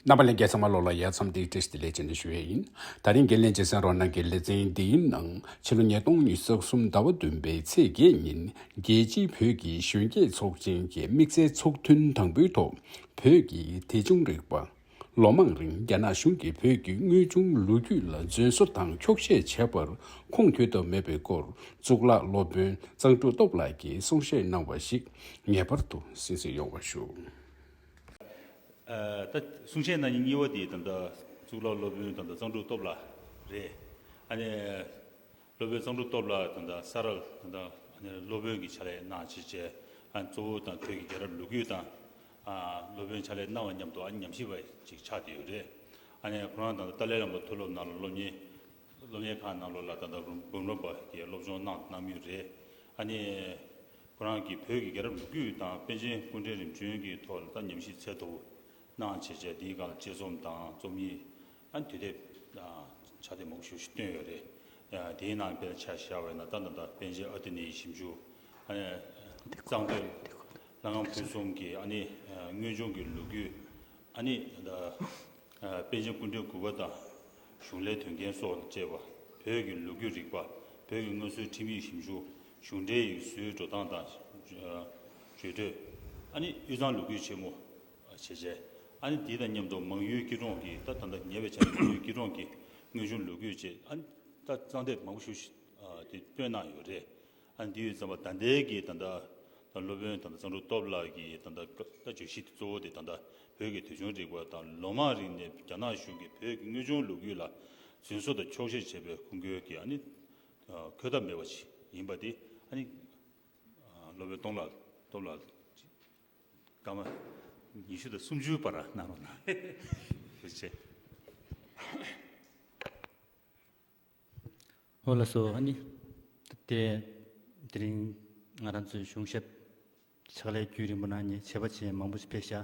རྣམ་པ་ལས་འགལ་ཚང་མ་ལོགས་ལ་ཡལ་མཚམས་འདི་བཀྲིས་བདེ་ལེགས་བྱིན་ནས་ཞུ་ཡས་ཡིན། ད་རིང་དགེ་ལེགས་བྱེད་སེང་རོ་ནང་གི་ལེ་ཚན་འདིའི་ནང་ཕྱི་ལོ་ཉིས་སྟོང་ཉིས་བརྒྱ་གསུམ་ཟླ་བ་བདུན་པའི་ཚེས་བརྒྱད་ཉིན་རྒྱལ་སྤྱིའི་བོད་ཀྱི་གཞོན་སྐྱེས་ཚོགས་ཆེན་གྱི་དམིགས་བསལ་ཚོགས་ཐུན་དང་པོའི་ཐོག་བོད་ཀྱི་དེ་བྱུང་རིག་པ། ལོ་མང་རིང་རྒྱ་ནག་གཞུང་གིས་བོད་ཀྱི་དངོས་བྱུང་ལོ་རྒྱུས་ལ་རྫུན་བཟོ་དང་འཁྱོག་བཤད་བྱས་པར་ཁུངས་འཁྱོལ་ཐབས་མེད་པའི་སྐོར་གཙུག་ལག་སློབ་དཔོན་གཙང་སྤྲུག་སྟོབས་ལགས་ཀྱིས་གསུང་བཤད་གནང་བ་ཞིག་ངེས་པར་དུ་གཟིགས་གཟིགས་ཡོང་བ་ཞུ། ད་གསུང་བཤད་གནང་ཉིན་གཉིས་བ་དེ་ད་ལྟ་གཙུག་ལག་སློབ་དཔོན་ད་ལྟ་གཙང་སྒྲུབ་སྟོབས་ལགས་རེད། ཨ་ནེ། སློབ་དཔོན་གཙང་སྒྲུབ་སྟོབས་ལགས་ད་ལྟ་ས་རཱ་ལ་ད་ལྟ་ཨ་ནེ་སློབ་དཔོན་གྱི་ཕྱག་ལས་གནང་བྱེད་བཅས་ཨ་ནེ་གཙོ་བོ་དང་ཁྱོད་ཀྱི་རྒྱལ་རབས་ལུ་གུ་དང་སློབ་དཔོན་ཕྱག་ལས་གནང་བ་མཉམ་དུ་ཨ་ནེ་ཉམས་ཞིབ་པ་ཅིག་ཆགས་བསྡད་ཡོད་རེད། ཨ་ནེ་ཁོ་རང་ད་ལྟ་ཏཱ་ལའི་བླ་མ་མཐོ་སློབ་ནང་ལ་སློབ་གཉེར་སློབ་གཉེར་ཁང་ནང་ལོགས་ལ་ད་ལྟ་འབུམ་རམས་པ་གྱི་སློབ་སྦྱོང་གནང་གནང་མུས་རེད། ཨ་ནེ། ཁོ་རང་གིས་བོད་ཀྱི་རྒྱལ་རབས་ལོ་རྒྱུས་དང་པཎ་ཆེན་སྐུ་འཕྲེང་རིམ་བྱོན་གྱི་ཐོག་ལ་ལྟ་ཉམས་ཤིང་ཚད་ཐུབ་གནང་བྱེད་སྤྱད་དེའི་སྒང་ལ་དཔྱད་རྩོམ་དང་རྩོམ་ཡིག་དང་དུས་དེབ་དང་ཕྱག་དེབ་མང་པོ་ཞིག་བཏོན་ཡོད་རེད། དེའི་ནང་དཔེར་ཆ་བཞག་བས་ན་རྟ་མདའ་དང་པཎ་ཆེན་ཨ་ཏི་ནེའི་ཞིབ་འཇུག་ཨ་ནེ། གཙང་སྟོད་ལྷ་ཁང་ཕུན་སུམ་གྱི་ཨ་ནེ། དངོས་བྱུང་གི་ལོ་རྒྱུས་ཨ་ནེ། པཎ་ཆེན་སྐུ་འཕྲེང་གུས་པ་དང་གཞུང་ལས་དོན་རྐྱེན་སོགས་ལ་དཔྱད་པ། བོད་ཀྱི་ལོ་རྒྱུས་རིག་པ། བོད་ཀྱི་དངོས་སྲོལ་ཁྲིམས་ཡིག་ཞིབ་འཇུག་གཞུང་འབྲེལ་ཡིག་གཟུགས་འགྲོ་སྟངས་དང། བརྗོད་འདོད། ཨ་ནི་དབུས་གཙང་ལུག་ཁྱུའི་ཆེན་མོ། བྱེད་བྱེད། ཨ་ནི་དེ་དང་མཉམ་དུ་མང་ཡུལ་སྐྱིད་གྲོང་གི་ད་ད་ད་ཉེ་བའི་ཆར་མང་ཡུལ་སྐྱིད་གྲོང་གི་དངོས་བྱུང་ལུག་ཁྱུ་བཅས་ཨ་ནི་ད་གཙང་དེབ་མང་པོ་ཞུ་དེ་སྤོས་གནང་ཡོད་རེད། ཨ་ནི་དེ་ཡུལ་ཙམ་པ་ད་ལྟའི་གི་ད་ད་ད་སློབ་དཔོན་ད་ད་གཙང་གྲུབ་སྟོབས་ལགས་ཀྱི་ད་ད་ད་བརྗོད་གཞི་གཙོ་བོ་དེ་ད་ད་བོད་ཀྱི་ཐོས་བྱུང་རིག་པ་དང་ལོ་མང་རིང་ནས་རྒྱ་ནག་གཞུང་གིས་བོད་ཀྱི་དངོས་བྱུང་ལུག་ཁྱུ་ལ་རྫུན་བཟོ་དང་འཁྱོག་བཤད་བྱས་པའི་ཁུངས་སྐྱེལ་གྱིས་ཨ་ནི་གོས་དག་མེད་པ་ཞིག་ཡིན་པ་དེ་ཨ་ནི། སློབ་དཔོན་སྟོང་ལ་སྟོབས་ལ། སྐར་མ་ཉི་ཤུ་དང་སུམ་ཅུའི་བར་ན་རོ་ན། ཞེས་བྱ། ཧོ་ལ་སོགས་ཨ་ནི། དེ་རིང་ང་རང་ཚོའི་གཞུང་ཞབས་ཕྱག་ལས་རྒྱུན་རིང་པོ་གནང་ནས་བྱ་བ་ཆེས་མང་པོ་ཞིག་ཕེབས་ཤག་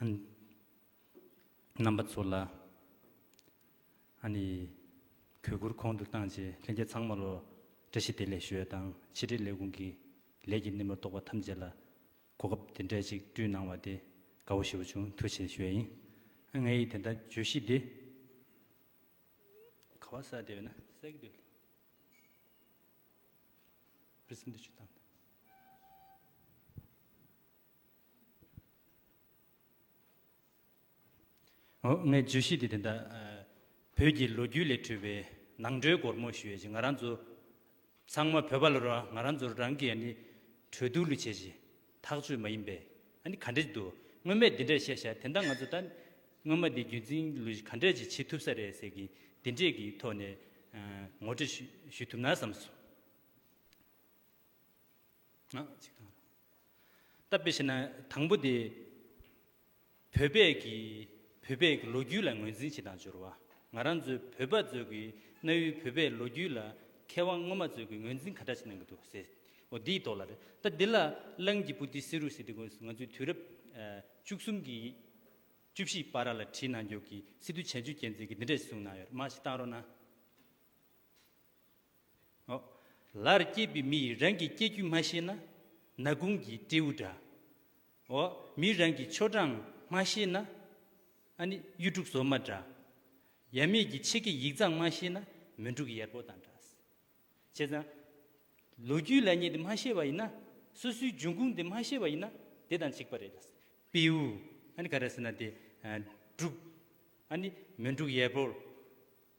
ཨ་ནི། རྣམ་པ་ཚོ་ལ་ཨ་ནི་གུས་བཀུར་གོང་དུ་བཏང་རྗེས་ལྷན་རྒྱས་ཚང་མ་ལོ་བཀྲ་ཤིས་བདེ་ལེགས་ཞུ་ཡ་དང་ཕྱི་དྲིལ་ལས་ཁུངས་ཀྱི་ལས་ཀྱི་སྣེ་མོར་གཏོགས་པ་ཐམས་ཅད་ལ་གོ་སྐབས་དེ་འདྲས་ཅིག་བསྐྲུན་གནང་བ་དེ་དགའ་བོ་ཞེ་བོ་བྱུང་ཐུགས་ཆེ་ཞུ་ཡ་ཡིན། ངའི་ཡིད་དེ་ལྟར་བརྗོད་གཞི་འདི་ག་བ་ས་དེ་བས་ན་གསལ་གྱི་འདུག་ལ། ངས་བརྗོད་གཞི་དེ་དེ་འདྲ། བོད་ཀྱི་ལོ་རྒྱུས་ལས་འཕྲོས་པའི་ནང་འགྲོའི་སྒོར་མོ་ཞུས་ཤིག་ང་རང་ཚོ་ཚང་མ་བོད་པ་ལོ་རང་ང་རང་ཚོར་རང་གི་ཡ་ནི་གྲོས་བསྡུར་ལུས་བྱས་ཤིག་ཐག་ཆོད་མ་ཡིན་པས་ཨ་ནི་ག་འདྲས་འདུག་སྔོན་མས་འདི་འདྲས་བཤད་ཤག་དེ་འདྲ་ང་ཚོ་ད་ནི་སྔོན་མ་དེ་རྒྱུན་འཛིན་ལུས་ག་འདྲས་ཅིག་བྱེད་ཐུབ་ས་རེད་ཟེར་གི་འདི་འདྲས་ཀྱི་ཐོག་ནས་ངོ་སྤྲོད་ཞུས་ཐུབ་ན་བསམ་སོང། གཅིག་དང། ལྟ་བུ་ཞེ་ན་དང་པོ་དེ། བོད་པས་ཀྱི་བོད་པས་ཀྱི་ལོ་རྒྱུས་ལ་ངོས་འཛིན་བྱེད་དང་སྦྱོར་བ། ང་རང་ཚོའི་བོད་པ་ཚོས་ཀྱི་གནའ་བོའི་བོད་པའི་ལོ་རྒྱུས་ལ་མཁས་དབང་སྔོན་མ་ཚོས་ཀྱི་ངོས་འཛིན་ག་འདྲ་བྱེད་གནང་གི་འདུག་ཟེར། འོ་དེའི་ཐོག་ལ་རེད། ད་དེ་ལ་གླང་གྱི་པུ་ཏི་སེ་རུ་སེ་དེ་ཀུན་ང་ཚོའི་དུས་རབས་བཅུ་གསུམ་གྱི་བཅུ་བཞི་པ་ར་ལ་བྲིས་གནང་རྒྱུ་གྱི་སི་ཏུ་བྱན་ཆུད་རྒྱལ་མཚན་གྱི་འདི་འདྲ་ཞིག་གསུངས་གནང་ཡོད་རེད་མ་ཞིག་བཏང་རོགས་གནང། ལར་སྐྱེས་པའི་མི་ཡིས་རང་གི་སྐྱེ་རྒྱུད་མ་ཤེས་ན་ནག་དགུང་གི་སྤྲེའུ་འདྲ། མིས་རང་གི་ཆོ་འབྲང་མ་ཤེས་ན་ཨ་ནི་གཡུ་འབྲུག་བཟོ་མ་འདྲ། ཡབ་མེས་ཀྱི་ཆེ་གེ་ཡིག་ཚང་མ་ཤེས་ན་མོན་འབྲུག་ཡེར་པོ་དང་འདྲ། བྱས་ཙང། ལོ་རྒྱུས་ལ་ཉེ་དེ་མ་ཤེས་པ་ཡིན་ན། སོ་སོའི་འབྱུང་ཁུངས་དེ་མ་ཤེས་པ་ཡིན་ན་དེ་དང་གཅིག་པ་རེད། སྤེའུ་ཨ་ནི་ག་རེ་ཟེར་ན་དེ་འབྲུག་ཨ་ནི་མོན་འབྲུག་ཡེར་པོ།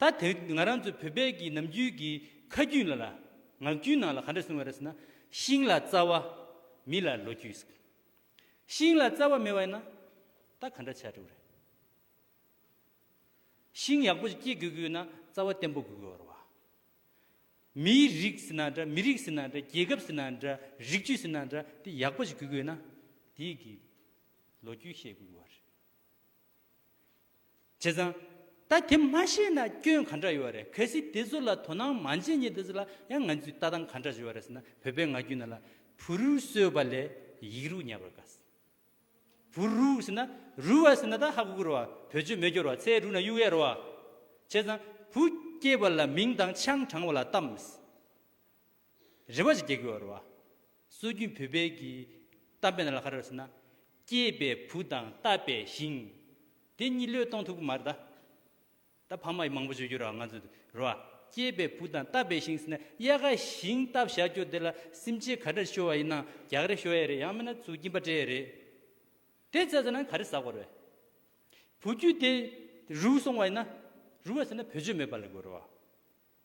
ད་དེ་ང་རང་ཚོ་བོད་པས་ཀྱི་ནམ་རྒྱུན་གྱི་ཁ་རྒྱུན་ལ་ལ། ངག་རྒྱུན་ནང་ལ་ག་འདྲ་གསུང་བ་རེད་ཟེར་ན། ཤིང་ལ་རྩ་བ། མི་ལ་ལོ་རྒྱུས་ཟེར། ཤིང་ལ་རྩ་བ་མེད་བ་ཡིན་ན། ད་ག་འདྲ་བྱ་འགྲོ་བ་རེད། ཤིང་ཡག་པོ་ཞིག་སྐྱེ་དགོས་ཀྱི་ཡོད་ན་རྩ་བ་བརྟན་པོ་དགོས་ཀྱི་ཡོད། མིའི་རིགས་ཟེར་ན་འདྲ་མི་རིགས་ཟེར་ན་འདྲ་རྒྱལ་ཁབ་ཟེར་ན་འདྲ་རིགས་རྒྱུད་ཟེར་ན་འདྲ་དེ་ཡག་པོ་ཞིག་དགོས་ཀྱི་ཡོད་ན། དེའི་གི་ལོ་རྒྱུས་ཤེས་དགོས་ཀྱི་ཡོད་རེད། བྱས་ཙང། ད་དེ་མ་ཤེས་ན་སྐྱོན་ག་འདྲ་ཡོད་བ་རེད་གལ་སྲིད་དེ་ཚོ་ལ་དོ་སྣང་མ་བྱེད་ཉེ་དེ་ཚོ་ལ་ཡང་ང་ཚོས་ལྟ་སྟངས་ག་འདྲ་བྱེད་བ་རེད་ཟེར་ན་བོད་པའི་ང་རྒྱུད་ན་ལ་བུ་རུ་གསོལ་བ་ལས་ཡིག་རུ་ཉར་བར་དགའ་ཟེར། བུ་རུ་ཟེར་ན་རུ་བ་ཟེར་ན་ད་ཧ་གོ་གོ་རུ་བ་བོད་ཆོས་མེད་སྐྱོར་བ་ཚེ་རུ་ན་གཡུག་ཡ་རུ་བ། བྱས་ཙང་བུ་སྐྱེས་པ་ལ་མིང་དང་ཆང་དྲང་བ་ལ་གཏམ་མི་སྲིད། རེ་བ་ཞིག་སྐྱེ་དགོས། བར་བ། སྲོལ་རྒྱུན་བོད་དཔལ་གྱི། གཏམ་དཔེ་ལ་ཁ་རོག་ཟེར་ན། སྐྱེས་པའི་བུ་དང་བཏབ་པའི་ཞིང། དེ་གཉིས་བློས་གཏོང་ཐུབ་ཀྱི་མ་རེད་ད། ད་ཕ་མ་ཡིས་མང་པོ་བརྗོད་རྒྱུ་རེད་བ་ང་ཚོས་དེ། རེ་བ། སྐྱེས་པའི་བུ་དང་བཏབ་པའི་ཞིང་ཟེར་ན་དབྱར་ཁ་ཞིང་བཏབ་བཞག་རྒྱུ་དེ་ལ་སེམས་ཅན་ག་འདྲ་ཤོར་བ་ཡིན་ན་རྒྱག་རེ་ཤོར་ཡས་རེད་ཡང་མིན་ན་ཚུར་སྐྱིན་པ་སྤྲད་ཡས་རེད། དེ་བཙལ་ཟེར་ན་ག་རེ་ཟ་དགོས་རེད། བུ་རྒྱུད་དེ་རུལ་སོང་བ་ཡིན་ན། རུལ་བ་ཟེར་ན་བོད་ཆོས་མེད་པ་ལས་དགོས་རེད་བ།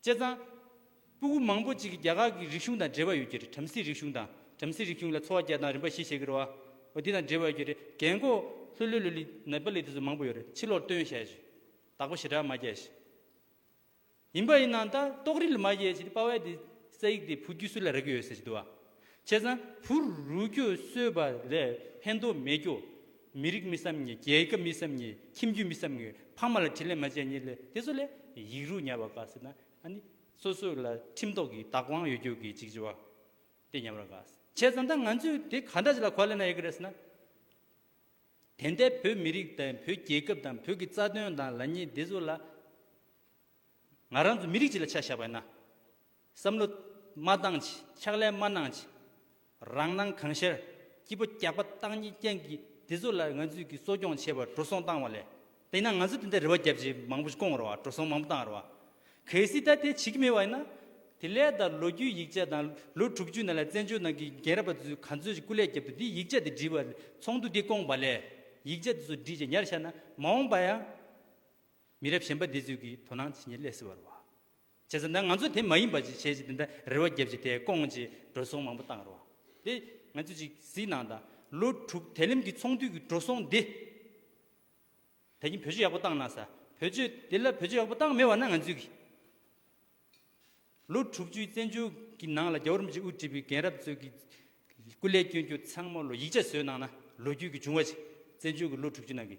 བཅད་གཙང། སྤུ་གུ་མང་པོ་ཅིག་གིས་རྒྱ་གར་གྱི་རིག་གཞུང་དང་འབྲེལ་བ་ཡོད་ཀྱི་རེད་བྲམ་ཟེའི་རིག་གཞུང་དང་བྲམ་ཟེའི་རིག་གཞུང་ལ་འཚོ་བ་སྐྱེལ་སྟངས་རིམ་པ་བཞི་བྱེད་ཀྱི་རེད་བ་འོ་དེ་དང་འབྲེལ་བ་ཡོད་ཀྱི་རེད་རྒན་གོ་ལྷོད་ལྷོད་ལོ་ལི་ནེ་པ་ལི་དེ་ཚོ་མང་པོ་ཡོད་རེད་ཕྱི་ལོར་སྟོན་བཤད་བྱོས་དྭགས་པོ་ཞེ་དྲག་མ་རྒྱལ་ཞེས་ཡིན་པ་ཡིན་ནང་ད་ཏོག་རིལ་མ་རྒྱལ་ཞེས་དེ་དཔའ་བའི་དེ་ས་ཡིག་དེ་བུ་རྒྱུད་སུ་ལ་རེག་གི་ཡོད་ཟེར་གྱི་འདུག་བ་བཅད་གཙང་བུ་རུ་རྒྱུད་གསོས་པ་ལས་ཕན་ཐོག་མེད་རྒྱུ་མི་རིགས་མི་བསམ་ཉེས་རྒྱལ་ཁབ་མི་བསམ་ཉེས་ཁྱིམ་རྒྱུད་མི་བསམ་ངེས་ཕ་མ་ལ་དྲིན་ལན་མ་བཅད་ཉེས་ལས་དེ་ཚོ་ལས་ཡིག་རུས་ཉར་བ་དགའ་ཟེར་ན་ཨ་ནི་སོ་སོས་ལ་ཁྲིམས་ཐོག་གི་བདག་དབང་ཡོད་རྒྱུ་གི་འཇིགས་བྱེད་དེ་ཉམས་ར་དགའ་བྱས་ཙང་ད་ང་ཚོས་དེ་ག་འདྲ་ཞིག་ལ་གོ་ལེན་ན་ཡག་གི་རེད་ཟེར་ན། དེ་འད་བོད་མི་རིགས་དང་བོད་རྒྱལ་ཁབ་དང་བོད་ཀྱི་རྩ་དོན་དང་ལ་ཉེས་དེ་ཚོ་ལ་ང་རང་ཚོ་མི་རིགས་གཅིག་ལ་ཆ་བཞག་པ་ཡིན་ན། བསམ་བློ་མ་བཏང་ཕྱིན་ཕྱག་ལས་མ་གནང་ཕྱིན་རང་སྣང་གང་ཤར་སྐྱིད་པོ་རྒྱག་པ་བཏང་ཉིན་རྐྱེན་གྱིས་དེ་ཚོ་ལ་ང་ཚོས་ཀྱིས་གསོ་སྐྱོང་བྱེད་པར་འགྲོ་སོང་བཏང་བ་ལས་དེ་ན་ང་ཚོས་དེ་འདྲ་རེ་བ་རྒྱབ་ཅིག་མང་པོ་ཞིག་སྐོང་རོགས་འགྲོ་སོང་མང་པོ་བཏང་རོགས། གལ་སྲིད་ད་དེ་བྱེད་ཀྱི་མེད་བ་ཡིན་ན། དེ་ལས་ད་ལོ་རྒྱུས་ཡིག་ཆ་དང་ལོ་དྲུག་ཅུའི་ནང་ལ་བཙན་བྱོལ་ནང་གི་རྒན་རབས་པ་ཚོས་ག་ཚོད་ཅིག་སྐུ་ལས་རྒྱབ་ཏུ་དེ་ཡིག་ཆ་དེ་བྲིས་པ་ཚོགས་འདུ་འདི་སྐོང་བ་ལས་ཡིག་ཆ་དེ་ཚོ་བྲིས་ཅིག་ཉར་ཤར་ན་མ་འོངས་པ་ཡང། མི་རབས་གཞན་པ་འདི་ཚོས་ཀྱིས་དོ་སྣང་བྱེད་ཉིན་སླེབས་སྲིད་བ་རེད་བ། བྱས་ཟེར་ན་ང་ཚོ་དེ་མ་ཡིན་པ་ཅིག་བྱས་ཅིག་དེ་འདྲ་རེ་བ་བརྒྱབ་ཅིག་དེ་སྐོང་ཅིག་འགྲོ་སོང་མང་པོ་བཏང་རོགས། དེ་ང་ཚོས་ཅིག་གཟིགས་གནང་དང། ལོ་དྲུག་དལ་ལེམ་གྱི་ཚོང་དུས་ཀྱི་འགྲོ་སོང་འདི། ད་ཀྱི་བོད་ཆོས་ཡག་པོ་བཏང་གནང་ས། བོད་ཆོས་དེ་ལ་བོད་ཆོས་ཡག་པོ་བཏང་མེད་བ་ན་ང་ཚོས་ཀྱི། ལོ་དྲུག་ཅུའི་བཙན་བྱོལ་གྱི་ནང་ལ་རྒྱ་བོར་མི་ཅིག་དབུ་ཁྲིད་པའི་རྒན་རབས་ཚོས་ཀྱི། སྐུ་ལས་སྐྱོན་རྒྱུ་ཚང་མ་ལོ་ཡིག་ཆ་བཟོས་གནང་ན་ལོ་རྒྱུས་ཀྱི་བྱུང་བ་ཅིག་བཙན་བྱོལ་གྱི་ལོ་དྲུག་ཅུ་ནང་གི་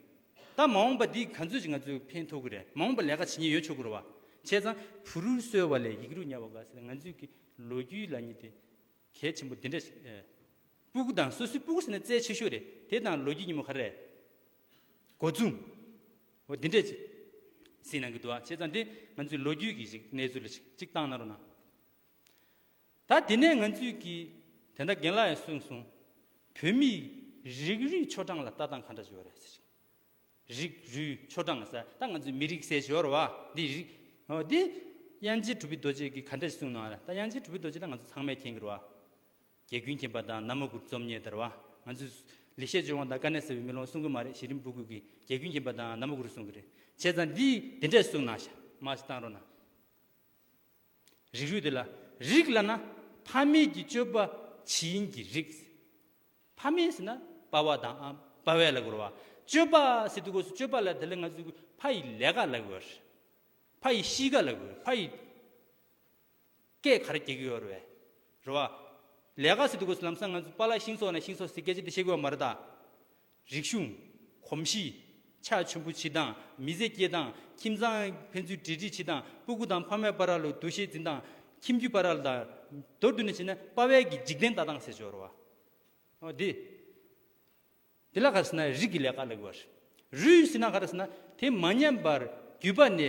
ད་མ་འོངས་པ་འདི་ག་ཚོད་ཅིག་ང་ཚོས་ཕན་ཐོག་གི་རེད་མ་འོངས་པ་ལས་ཀ་བྱེད་ཉེན་ཡོད་ཆོག་གི་རེད་བ་བྱས་ཙང་བུ་རུ་གསོལ་བ་ལས་ཡིག་རུ་ཉར་བ་དགའ་སེ་ང་ཚོས་ཀྱི་ལོ་རྒྱུས་ལ་ཉེ་དེ་གལ་ཆེན་པོ་འདི་འདྲ་ཞིག་ཨེ། སྤུ་གུ་དང་སོ་སོའི་སྤུ་གུ་ཟེར་ན་རྩལ་ཆེ་ཤོས་རེད་དེ་དང་ལོ་རྒྱུས་ཉིན་མོ་ག་རེ། སྒོ་རྫུན། འོ་འདི་འདྲ་ཅིག་ཟིན་གནང་གི་འདུག་བ་བྱས་ཙང་འདི་ང་ཚོའི་ལོ་རྒྱུས་ཀྱི་ཞིག་གནས་ཚུལ་ལ་ཅིག་གཏང་གནང་རོགས་གནང། ད་དེ་ནས་ང་ཚོས་ཀྱིས་དེ་འདྲ་རྒན་ལགས་ཡང་གསུངས་སོང། བོད་མིས་རིགས་རུས་ཆོ་འབྲང་ལ་ལྟ་སྟངས་ག་འདྲ་བྱོས་རེད་ཟེར་གྱིས། རིགས་རུས་ཆོ་འབྲང་ཟེར་ད་ང་ཚོས་མི་རིགས་ཟེར་ཞོར་བ་འདི་རིགས། འོ་དེ་དབྱངས་ཅན་གྲུབ་པི་རྡོ་རྗེས་ཀྱིས་ག་འདྲ་གསུངས་སྣང་རེད་ད་དབྱངས་ཅན་གྲུབ་པི་རྡོ་རྗེ་ལ་ང་ཚོ་ཚང་མས་མཁྱེན་གྱིར་བ། རྒྱལ་ཀུན་མཁྱེན་པ་དང་ན་མོ་གུར་རྩོམ་གཉིས་དར་བ། ང་ཚོས་ལེགས་བཤད་ལྗོན་དབང་དང་དཀའ་གནས་ཟེར་བའི་མེ་ལོང་གསུང་གི་མ་རེད་གཞི་རིམ་སྤུ་གུས་ཀྱིས་རྒྱལ་ཀུན་མཁྱེན་པ་དང་ན་མོ་གུར་གསུང་གི་རེད་བྱས་ཙང་འདིས་དེ་འདྲས་གསུངས་སྣང་ཤ་མ་གཏང་རོགས་གནང། རིགས་རུས་དེ་ལ་རིགས་བླ་ན་ཕ་མེས་ཀྱི་སྤྱོད་པ་ཇི་ཡིན་གྱི་རིགས། ཕ་མེས་ཟེར་ན་དཔའ་བ་དང་དཔའ་བའི་ལ་དགོས་རོ། སྤྱོད་པ་ཟེར་དུས་སྒོས་སུ་སྤྱོད་པ་ལ་དེ་ལ་ང་ཚོས་གུས་ཕ་ཡི་ལས་ཀ་ལ་དགོས། ཕ་ཡི་གཤིས་ཀ་ལ་དགོས་ཕ་ཡི་སྐད་ག་རེ་གྱེས་གི་ཡོད་རེད་རེད་བ། ལས་ཀ་ཟེར་དུས་སྒོས་སུ་ལམ་སང་ང་ཚོས་པཱ་ལ་ཤིང་སོགས་ནས་ཤིང་སོགས་ཟེར་སྐད་ཆ་དེ་བཤད་གི་ཡོད་མ་རེད་དཱ། རིག་གཞུང། གོམས་གཤིས། ཕྱག་མཆོད་འབུལ་བྱེད་སྟངས། མི་ཟས་སྐྱེལ་སྟངས། ཁྱིམ་ཚང། ཕན་ཚུན་འབྲེལ་འདྲིས་བྱེད་སྟངས། སྤུ་གུ་དང་ཕ་མའི་པཱ་ར་ལུ་འདུ་ཤེས་འཛིན་སྟངས། ཁྱིམ་རྒྱུད་པཱ་ར་ལུ་དང། མདོར་བསྡུས་ནས་བྱས་ན་དཔའ་བལ་གྱི་འཇིག་རྟེན་ལྟ་སྟངས་ཟེར་སྦྱོར་བ། འོ་དེ། དེ་ལ་ག་རེ་ཟེར་ན་རིགས་ཀྱི་ལས་ཀ་ལ་གོ་བ་རེད། རུས་ཟེར་ན་ག་རེ་ཟེར་ན་དེ་མ་ཉམས་པར་བརྒྱུད་པ་ནས་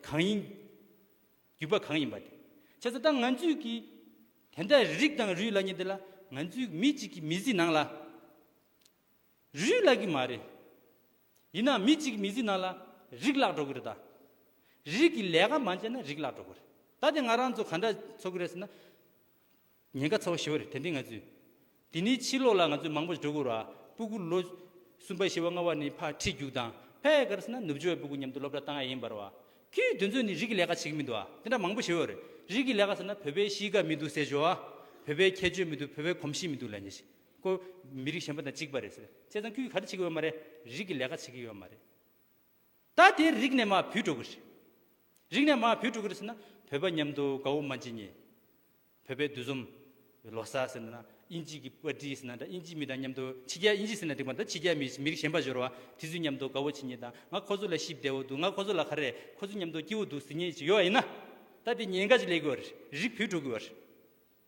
གང་ཡིན། བརྒྱུད་པ་གང་ཡིན་པ་དེ། བྱས་ཙང་ད་ང་ཚོས་ཀྱིས་དེ་འདྲ་རིགས་དང་རུས་ལ་ཉེ་དེ་ལ་ང་ཚོའི་མི་གཅིག་གི་མི་གཟི་ནང་ལ། རུས་བརླག་གི་མ་རེད། ཡིན་ནའང་མི་གཅིག་གི་མི་ཚེའི་ནང་ལ་རིགས་བརླག་འགྲོ་གི་རེད་ད། རིགས་ཀྱི་ལས་ཀ་མ་བྱས་ན་རིགས་བརླག་འགྲོ་གི་རེད། ད་ལྟའི་ང་རང་ཚོ་ག་འདྲ་འཚོ་གི་རེད་ཟེར་ན། ཉེན་ཁ་ཚ་བོ་ཞི་བ་རེད་དེ་འདྲའི་ང་ཚོས། དེ་ནས་ཕྱི་ལོགས་ལ་ང་ཚོས་མང་པོ་ཞིག་འགྲོ་གི་རེད། སྤུ་གུ་ལོ་གསུམ་པ་བཞི་བ་ལྔ་བ་ནས་ཕར་ཁྲིད་རྒྱུགས་དང་ཕལ་ག་རེ་ཟེར་ན་ནུབ་ཕྱོགས་བའི་སྤུ་གུ་མཉམ་དུ་སློབ་གྲྭ་བཏང་ཡ་ཡིན་པར་བ། ཁྱོད་དེ་ཚོས་ནི་རིགས་ཀྱི་ལས་ཀ་བྱེད་ཀྱི་མི་འདུག་ཨ་དེ་འདྲ་མང་པོ་ཞི་བ་རེད། རིགས་ཀྱི་ལས་ཀ་ཟེར་ན་བོད་པའི་གཤིས་ཀ་མི་འདུག་ཟེར་ཞོག་ཨ། བོད་པའི་ཁྱད་ཆོས་མི་འདུག་བོད་པའི་གོམས་གཤིས་མི་འདུག་ལས་ཉེས་ཤིག། ཀོ། མི་རིགས་གཞན་པ་དང་གཅིག་པ་རེད་ཟེར། བྱས་ཙང་ཁྱོད་ཀྱིས་ག་རེ་བྱེད་ཀྱི་ཡོད་མ་རེད། རིགས་ཀྱི་ལས་ཀ་བྱེད་ཀྱི་ཡོད་མ་རེད། ད་དེ་རིགས་ནས་མར་བུད་འགྲོ་གི་རེད། རིགས་ནས་མར་བུད་འགྲོ་གི་རེད་ཟེར་ན། བོད་པ་མཉམ་དུ་དགའ་བོ་མ་བྱེད་ངེས། བོད་པའི་འདུས་འཛོམས། ལོ་གསར་ཟེར་ནས་ན། དབྱིན་ཇིས་ཀྱི་པར་ཏི་ཟེར་ན་འདྲ་དབྱིན་ཇིའི་མི་དང་མཉམ་དུ་ཕྱི་རྒྱལ་དབྱིན་ཇི་ཟེར་ན་འགྲིག་པ་འདྲ་ཕྱི་རྒྱལ་མི་མི་རིགས་གཞན་པ་ཤོར་བ། དེ་ཚོའི་མཉམ་དུ་དགའ་བོ་བྱེད་ངེས་དང་ང་ཁོ་ཚོ་ལ་གཞི་བདེ་བོ་འདུག་ང་ཁོ་ཚོ་ལ་ག་རེ། ཁོ་ཚོའི་མཉམ་དུ་སྐྱིད་བོ་འདུག་ཟེར་ངེས་ཅིག་ཡོད་ཡིན་ན། ད་དེ་ཉེན་ཁ་ཅིག་ལས་ཀྱི་ཡོད་རེད། རིགས་བུད་འགྲོ་གི་ཡོད་རེད།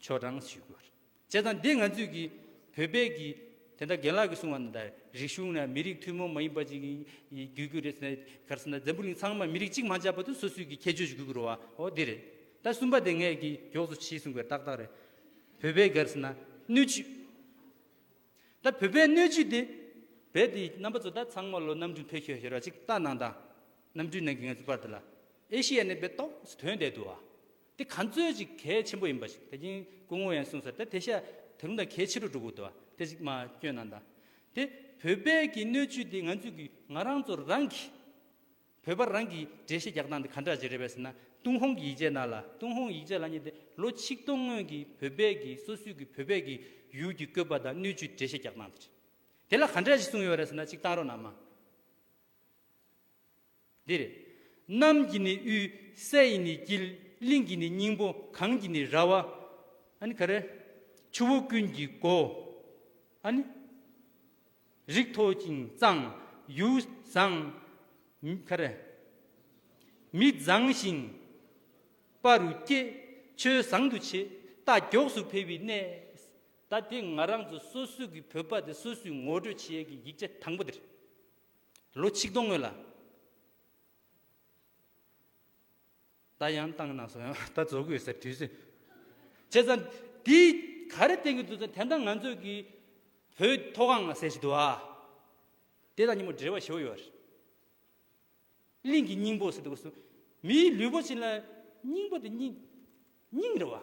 ཆོས་དྲང་ཞུས་དགོས་རེད་བྱས་ཙང་འདི་ང་ཚོས་ཀྱི་བོད་པས་ཀྱི་དེ་འདྲ་རྒན་ལགས་ཀྱི་གསུང་བ་འདི་འདྲ་རིག་གཞུང་ན་མི་རིགས་ཐུན་མོང་མ་ཡིན་པ་ཅིག་དགོས་རྒྱུ་རེད་ཟེར་གར་བསམ་ན་འཛམ་བུ་གླིང་ཚང་མ་མི་རིགས་གཅིག་མ་ཆགས་པ་དུས་སོ་སོའི་ཀྱི་ཁྱད་ཆོས་ཞིག་དགོས་ཀྱི་རོ་བའོ་འདི་རེད་ད་གསུམ་པ་དེ་ངས་ཀྱི་མགྱོགས་སུ་བྱིས་གསུང་བའི་ཏག་ཏག་རེད་བོད་པའི་གར་བསམ་ན་སྣོད་བཅུད་ད་བོད་པའི་སྣོད་བཅུད་དེ་བས་དེ་རྣམ་པ་ཚོ་ད་ཚང་མ་ལོ་གནམ་གྲུ་འཕེལ་ཤོས་ཤོར་བ་ཅིག་ལྟ་གནང་དང་གནམ་གྲུའི་ནང་གི་ང་ཚོ་པར་དེ་ལ་ཨེ་ཤི་ཡ་ནས་པའི་ཏོག་དོན་འད་འདུག་བ་དེ་ག་ཚོད་ཅིག་གལ་ཆེན་པོ་ཡིན་པ་ཞིག་དེ་བཞིན་སྐུ་ངོ་ཡང་གསུངས་སོ་དེ་དེ་ཤ་དེ་རུང་དང་གལ་ཆེ་རུ་འགྲོ་དགོས་དོ་དེ་གཅིག་མ་སྐྱོན་ན་ད་དེ་བོད་པས་ཀྱི་སྣོད་བཅུད་དེ་ང་ཚོས་ཀྱི་ང་རང་ཚོ་རང་གི་བོད་པ་རང་གི་འགྲེལ་བཤད་རྒྱག་སྟངས་དེ་ག་འདྲ་ཅིག་རེད་པས་ཟེར་ན་ཏུང་ཧོང་གི་ཡིག་ཆའི་ནང་ལ་ཏུང་ཧོང་ཡིག་ཆ་ལ་གཉིས་ཏེ་ལོ་ཆིག་སྟོང་སྔོན་གྱི་བོད་པས་ཀྱི་སོ་སོའི་ཀྱི་བོད་པས་ཀྱི་ཡུལ་གྱི་བཀོད་པ་དང་སྣོད་བཅུད་འགྲེལ་བཤད་རྒྱག་སྟངས་དེ་རེད་དེ་ལ་ག་འདྲ་ཞིག་གསུངས་ཡོད་རེད་ཟེར་ན་ཅིག་གཏང་རོགས་གནང་མ། འདིར། གནམ་གྱི་ནི་དབུས། ས་ཡི་ནི་དཀྱིལ། གླིང་གི་ནི་སྙིང་པོ། གངས་ཀྱི་ནི་ར་བ། ཨཱ་ནི་ག་རེ། ཆུ་བོ་ཀུན་གྱི་སྒོ། ཨཱ་ནི། རིགས་མཐོ་ཅིང་གཙང། ཡུལ་བཟང། ག་རེ། མི་བཟང་ཞིང། པ་རུ་སྐྱེ། ཆོས་བཟང་དུ་བྱེད། རྟ་མགྱོགས་སུ་འཕེལ་བའི་གནས། ད་དེ་ང་རང་ཚོ་སོ་སོའི་གི་བོད་པ་དེ་སོ་སོའི་ངོ་སྤྲོད་བྱེད་ཡས་ཀྱི་ཡིག་ཆ་དང་པོ་འདིར། ལོ་ཆིག་སྟོང་སྔོན་ལ། ད་ཡང་བཏང་ན་སོང་ཡང་ད་རྫོགས་དགོས་ཟེར་དུས་སུ། བྱས་ཙང། དེ་ག་རེ་བསྟན་གི་འདུག་ཙང་དེ་འདྲ་ང་ཚོས་ཀྱི་བོད་མཐོ་སྒང་ལ་ཟེར་ཞིག་འདུག་ཨ། དེ་དང་གཉིས་མོ་འབྲེལ་བ་ཞོ་ཡོད་རེད། གླིང་གི་སྙིང་པོ་ཟེར་དུས་སུ། མིའི་ལུས་པོ་ཆེན་ལ་སྙིང་པོ་དེ་སྙིང། སྙིང་རེད་བ།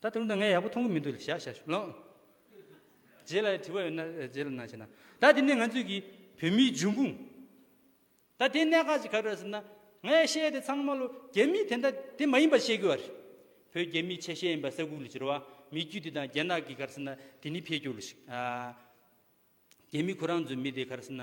ད་དེ་རིང་དང་ངས་ཡག་པོ་མཐོང་གི་མི་འདུག་ལ་ཞག་ཞག་ཞུ་ལོང། རྗེས་ལ་དྲི་བ་ཡོད་ན་རྗེས་ལ་གནང་ཞེ་ན། ད་དེ་ནི་ང་ཚོས་ཀྱི་བོད་མིའི་འབྱུང་ཁུངས། ད་དེའི་གནད་འགག་ཅིག་ག་རེད་ཟེར་ན། ངས་བཤད་དེ་ཚང་མ་ལོ་རྒྱ་མི་དེ་འདྲ་དེ་མ་ཡིན་པ་བཤད་གི་བ་རེད། བོད་རྒྱ་མིའི་ཆ་ཤས་ཡིན་པ་ས་ཁུག་ལ་བསྒྱུར་བ་མི་རྒྱུད་དེ་དང་རྒྱ་ནག་གི་གར་ཟེར་ན་དེ་ནི་འཕེལ་འགྱུར་ལ་ཞིག། རྒྱ་མི་ཁོ་རང་ཚོའི་མི་དེ་གར་ཟེར་ན།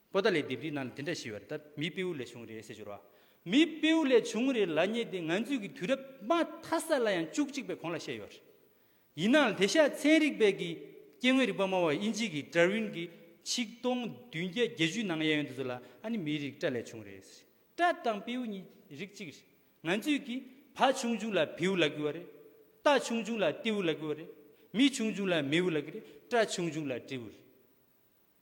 པོ་ཏཱ་ལའི་ལྡེབས་རིས་ནང་ལ་དེ་འདྲ་ཞེས་པ་ལྟར་མི་སྤེའུ་ལས་བྱུང་རེད་ཟེར་འགྱུར་བ། མི་སྤེའུ་ལས་བྱུང་རེད་ལ་ཉེ་དེ་ང་ཚོས་ཀྱི་དུས་རབས་མ་མཐའ་ས་ལ་ཡང་བཅུ་གཅིག་པའི་གོང་ལ་བཤད་ཡོད་རེད། ཡིན་ནའང་དེ་ཤ་ཚན་རིག་པས་ཀྱི་སྐྱེ་དངོས་རིག་པ་སྨྲ་བ་དབྱིན་ཇི་ཀི་ཏྲ་ཝིན་གྱི་ཆིག་སྟོང་བདུན་བརྒྱ་བརྒྱད་ཅུའི་ནང་གཡས་གཡོན་དུ་ཚུར་ལ་ཨ་ནི་མིའི་རིགས་ཏྲ་ལས་བྱུང་རེད་ཟེར། ཏྲ་དང་སྤེའུ་གཉིས་རིགས་གཅིག་རེད། ང་ཚོས་ཀྱི་བ་ཆུང་ཆུང་ལ་བེའུ་ལ་གི་བ་རེད། རྟ་ཆུང་ཆུང་ལ་ཏེའུ་ལ་གི་བ་རེད། མི་ཆུང་ཆུང་ལ་མེའུ་ལ་གི་རེད། ཏྲ་ཆུང་ཆུང་ལ་ཏྲེའུ་རེད།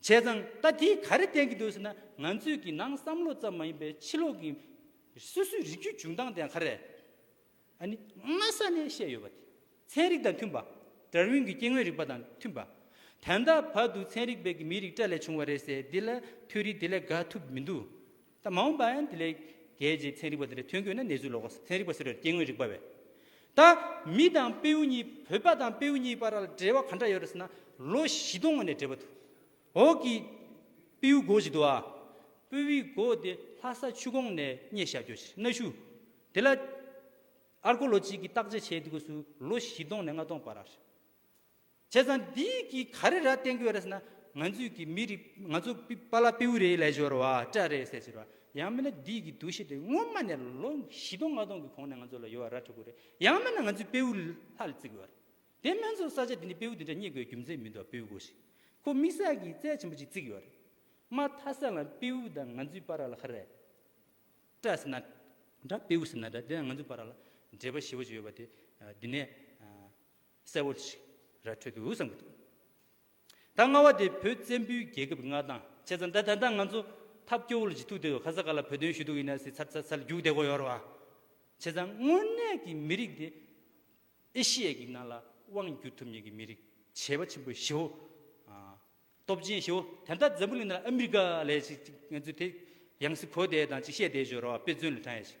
བྱས་ཙང་ད་དེས་ག་རེ་བསྟན་གྱི་འདུག་ཟེར་ན་ང་ཚོས་ཀྱི་ནང་བསམ་བློ་ཙམ་མ་ཡིན་པའི་ཕྱི་ལོག་གི་སོ་སོའི་རིགས་རྒྱུད་བྱུང་སྟངས་དེའང་ག་རེ། ཨ་ནི་སྔ་ས་ནས་བཤད་ཡོད་པ་དེ་ཚན་རིག་དང་མཐུན་པ། དར་ཝིན་གྱི་སྐྱེ་དངོས་རིག་པ་དང་མཐུན་པ། དན་ད་བར་དུ་ཚན་རིག་པས་ཀྱི་མིའི་རིགས་སྤྲ་ལས་བྱུང་བ་རེད་ཟེར་འདི་ལ་ཐོས་རིགས་དེ་ལས་དགའ་ཐུབ་མི་འདུག་ད་མ་འོངས་པའང་དེ་ལས་རྒྱལ་གྱི་ཚན་རིག་པ་དེ་ལས་ཐོན་དགོས་ན་ནེ་ཙུའི་ལོ་ཀོ་ཚན་རིག་པ་ཟེར་བའི་སྐྱེ་དངོས་རིག་པ་བས། ད་མི་དང་པེའུ་གཉིས་བོད་པ་དང་པེའུ་གཉིས་བར་ལ་འབྲེལ་བ་ག་འདྲ་ཡོད་རེད་ཟེར་ན་ལོ་བཞི་སྟོང་སྔོན་ནས་འབྲེལ་བ་འདུག་འོག་གི་པེའུ་སྒོ་ཞིག་འདུག་ཨ་པེའུའི་སྒོ་དེ་ལྷ་ས་ཆུ་ཁོངས་ནས་རྙེད་བཞག་རྒྱུ་ཞིག་གནའ་ཤུལ་དེ་ལ། Archaeology། གྱིས་བརྟག་དཔྱད་བྱས་འདུག་གསུངས་ལོ་བཞི་སྟོང་ནས་ལྔ་སྟོང་བར་ཨ་རེད། བྱས་ཙང་འདི་གི་ག་རེ་ར་བསྟན་དགོས་རེད་ཟེར་ན་ང་ཚོས་ཀྱི་མི་རིགས་ང་ཚོ་པ་ལ་པེའུ་རེའི་ལས་སྦྱོར་བ་སྤྲ་རེད་ཟེར་ཟེར་བ་ཡང་མིན་ན་འདི་གི་འདུ་ཤེས་དེ་སྔོན་མ་ནས་ལོ་བཞི་སྟོང་ལྔ་སྟོང་གི་གོང་ནས་ང་ཚོ་ལ་ཡོད་བ་ར་འཕྲོད་དགོས་རེད་ཡང་མིན་ན་ང་ཚོས་པེའུ་ལྷ་ལ་བརྩི་དགོས་བ་རེད་དེ་སྨན་ཚོགས་ས་ཆ་འདི་ནས་པེའུ་འདི་འདྲ་རྙེད་དགོས་རྒྱུ་མཚན་མི་འདུག་པེའུ་སྒོ་ཞིག་ཁོ་མིག་སར་གྱི་རྩལ་ཆེན་པོ་ཅིག་བརྩིགས་ཡོད་བ་རེད་མ་མཐའ་སར་ལ་པེའུ་དང་ང་ཚོའི་པ་ར་ལ་ཧ་རེད་སྤྲ་ཟེར་ན་འདྲ་པེའུ་ཟེར་ན་འདྲ་དེ་ཡང་ང་ཚོའི་པ་ར་ལ་འབྲེལ་བ་ཞེ་བོ་ཅིག་ཡོད་བ་དེ་འདི་ནས་གསལ་བོ་ཞིག་ར་འཕྲོད་འདུག་བསམ་གྱི་འདུག་ད་སྔ་བ་དེ་བོད་བཙན་པོའི་རྒྱལ་ཁབ་མངའ་ཐང་ཆད་ཙང་ད་ད་ལྟ་ང་ཚོ་ཐབས་སྐྱོ་བོ་ལ་ཇི་ཐུག་དེ་ཧ་ས་ག་ལ་བོད་དོན་ཞུ་དུག་ཡིན་ན་སྲིད་ཚར་ཚར་ཚར་རྒྱུག་བསྡད་གོ་ཡོ་ར་བ་ཆད་ཙང་དངོས་གནས་ཀྱི་མི་རིགས་དེ་ཨེ་ཤི་ཡའི་གི་ནང་ལ་དབང་བསྒྱུར་ཐུབ་ཉེན་གྱི་མི་རིགས་བྱེས་པ་ཆེན་པོ་ཞི་བོ་སྟོབས་ཆེན་ཞི་བོ་དེ་ད་འཛམ་བུ་གླིང་ནང་ལ་ཨ་མི་རི་ཀ་ལས་ཅིག་ཅིག་ང་ཚོ་དེ་ཡང་སྲིད་གོ་བསྡད་དང་ཅིག་བཤད་བསྡད་ཞོ་ར་བ་དཔེ་མཚོན་ལ་ཐོན་ཡ་ཞིག་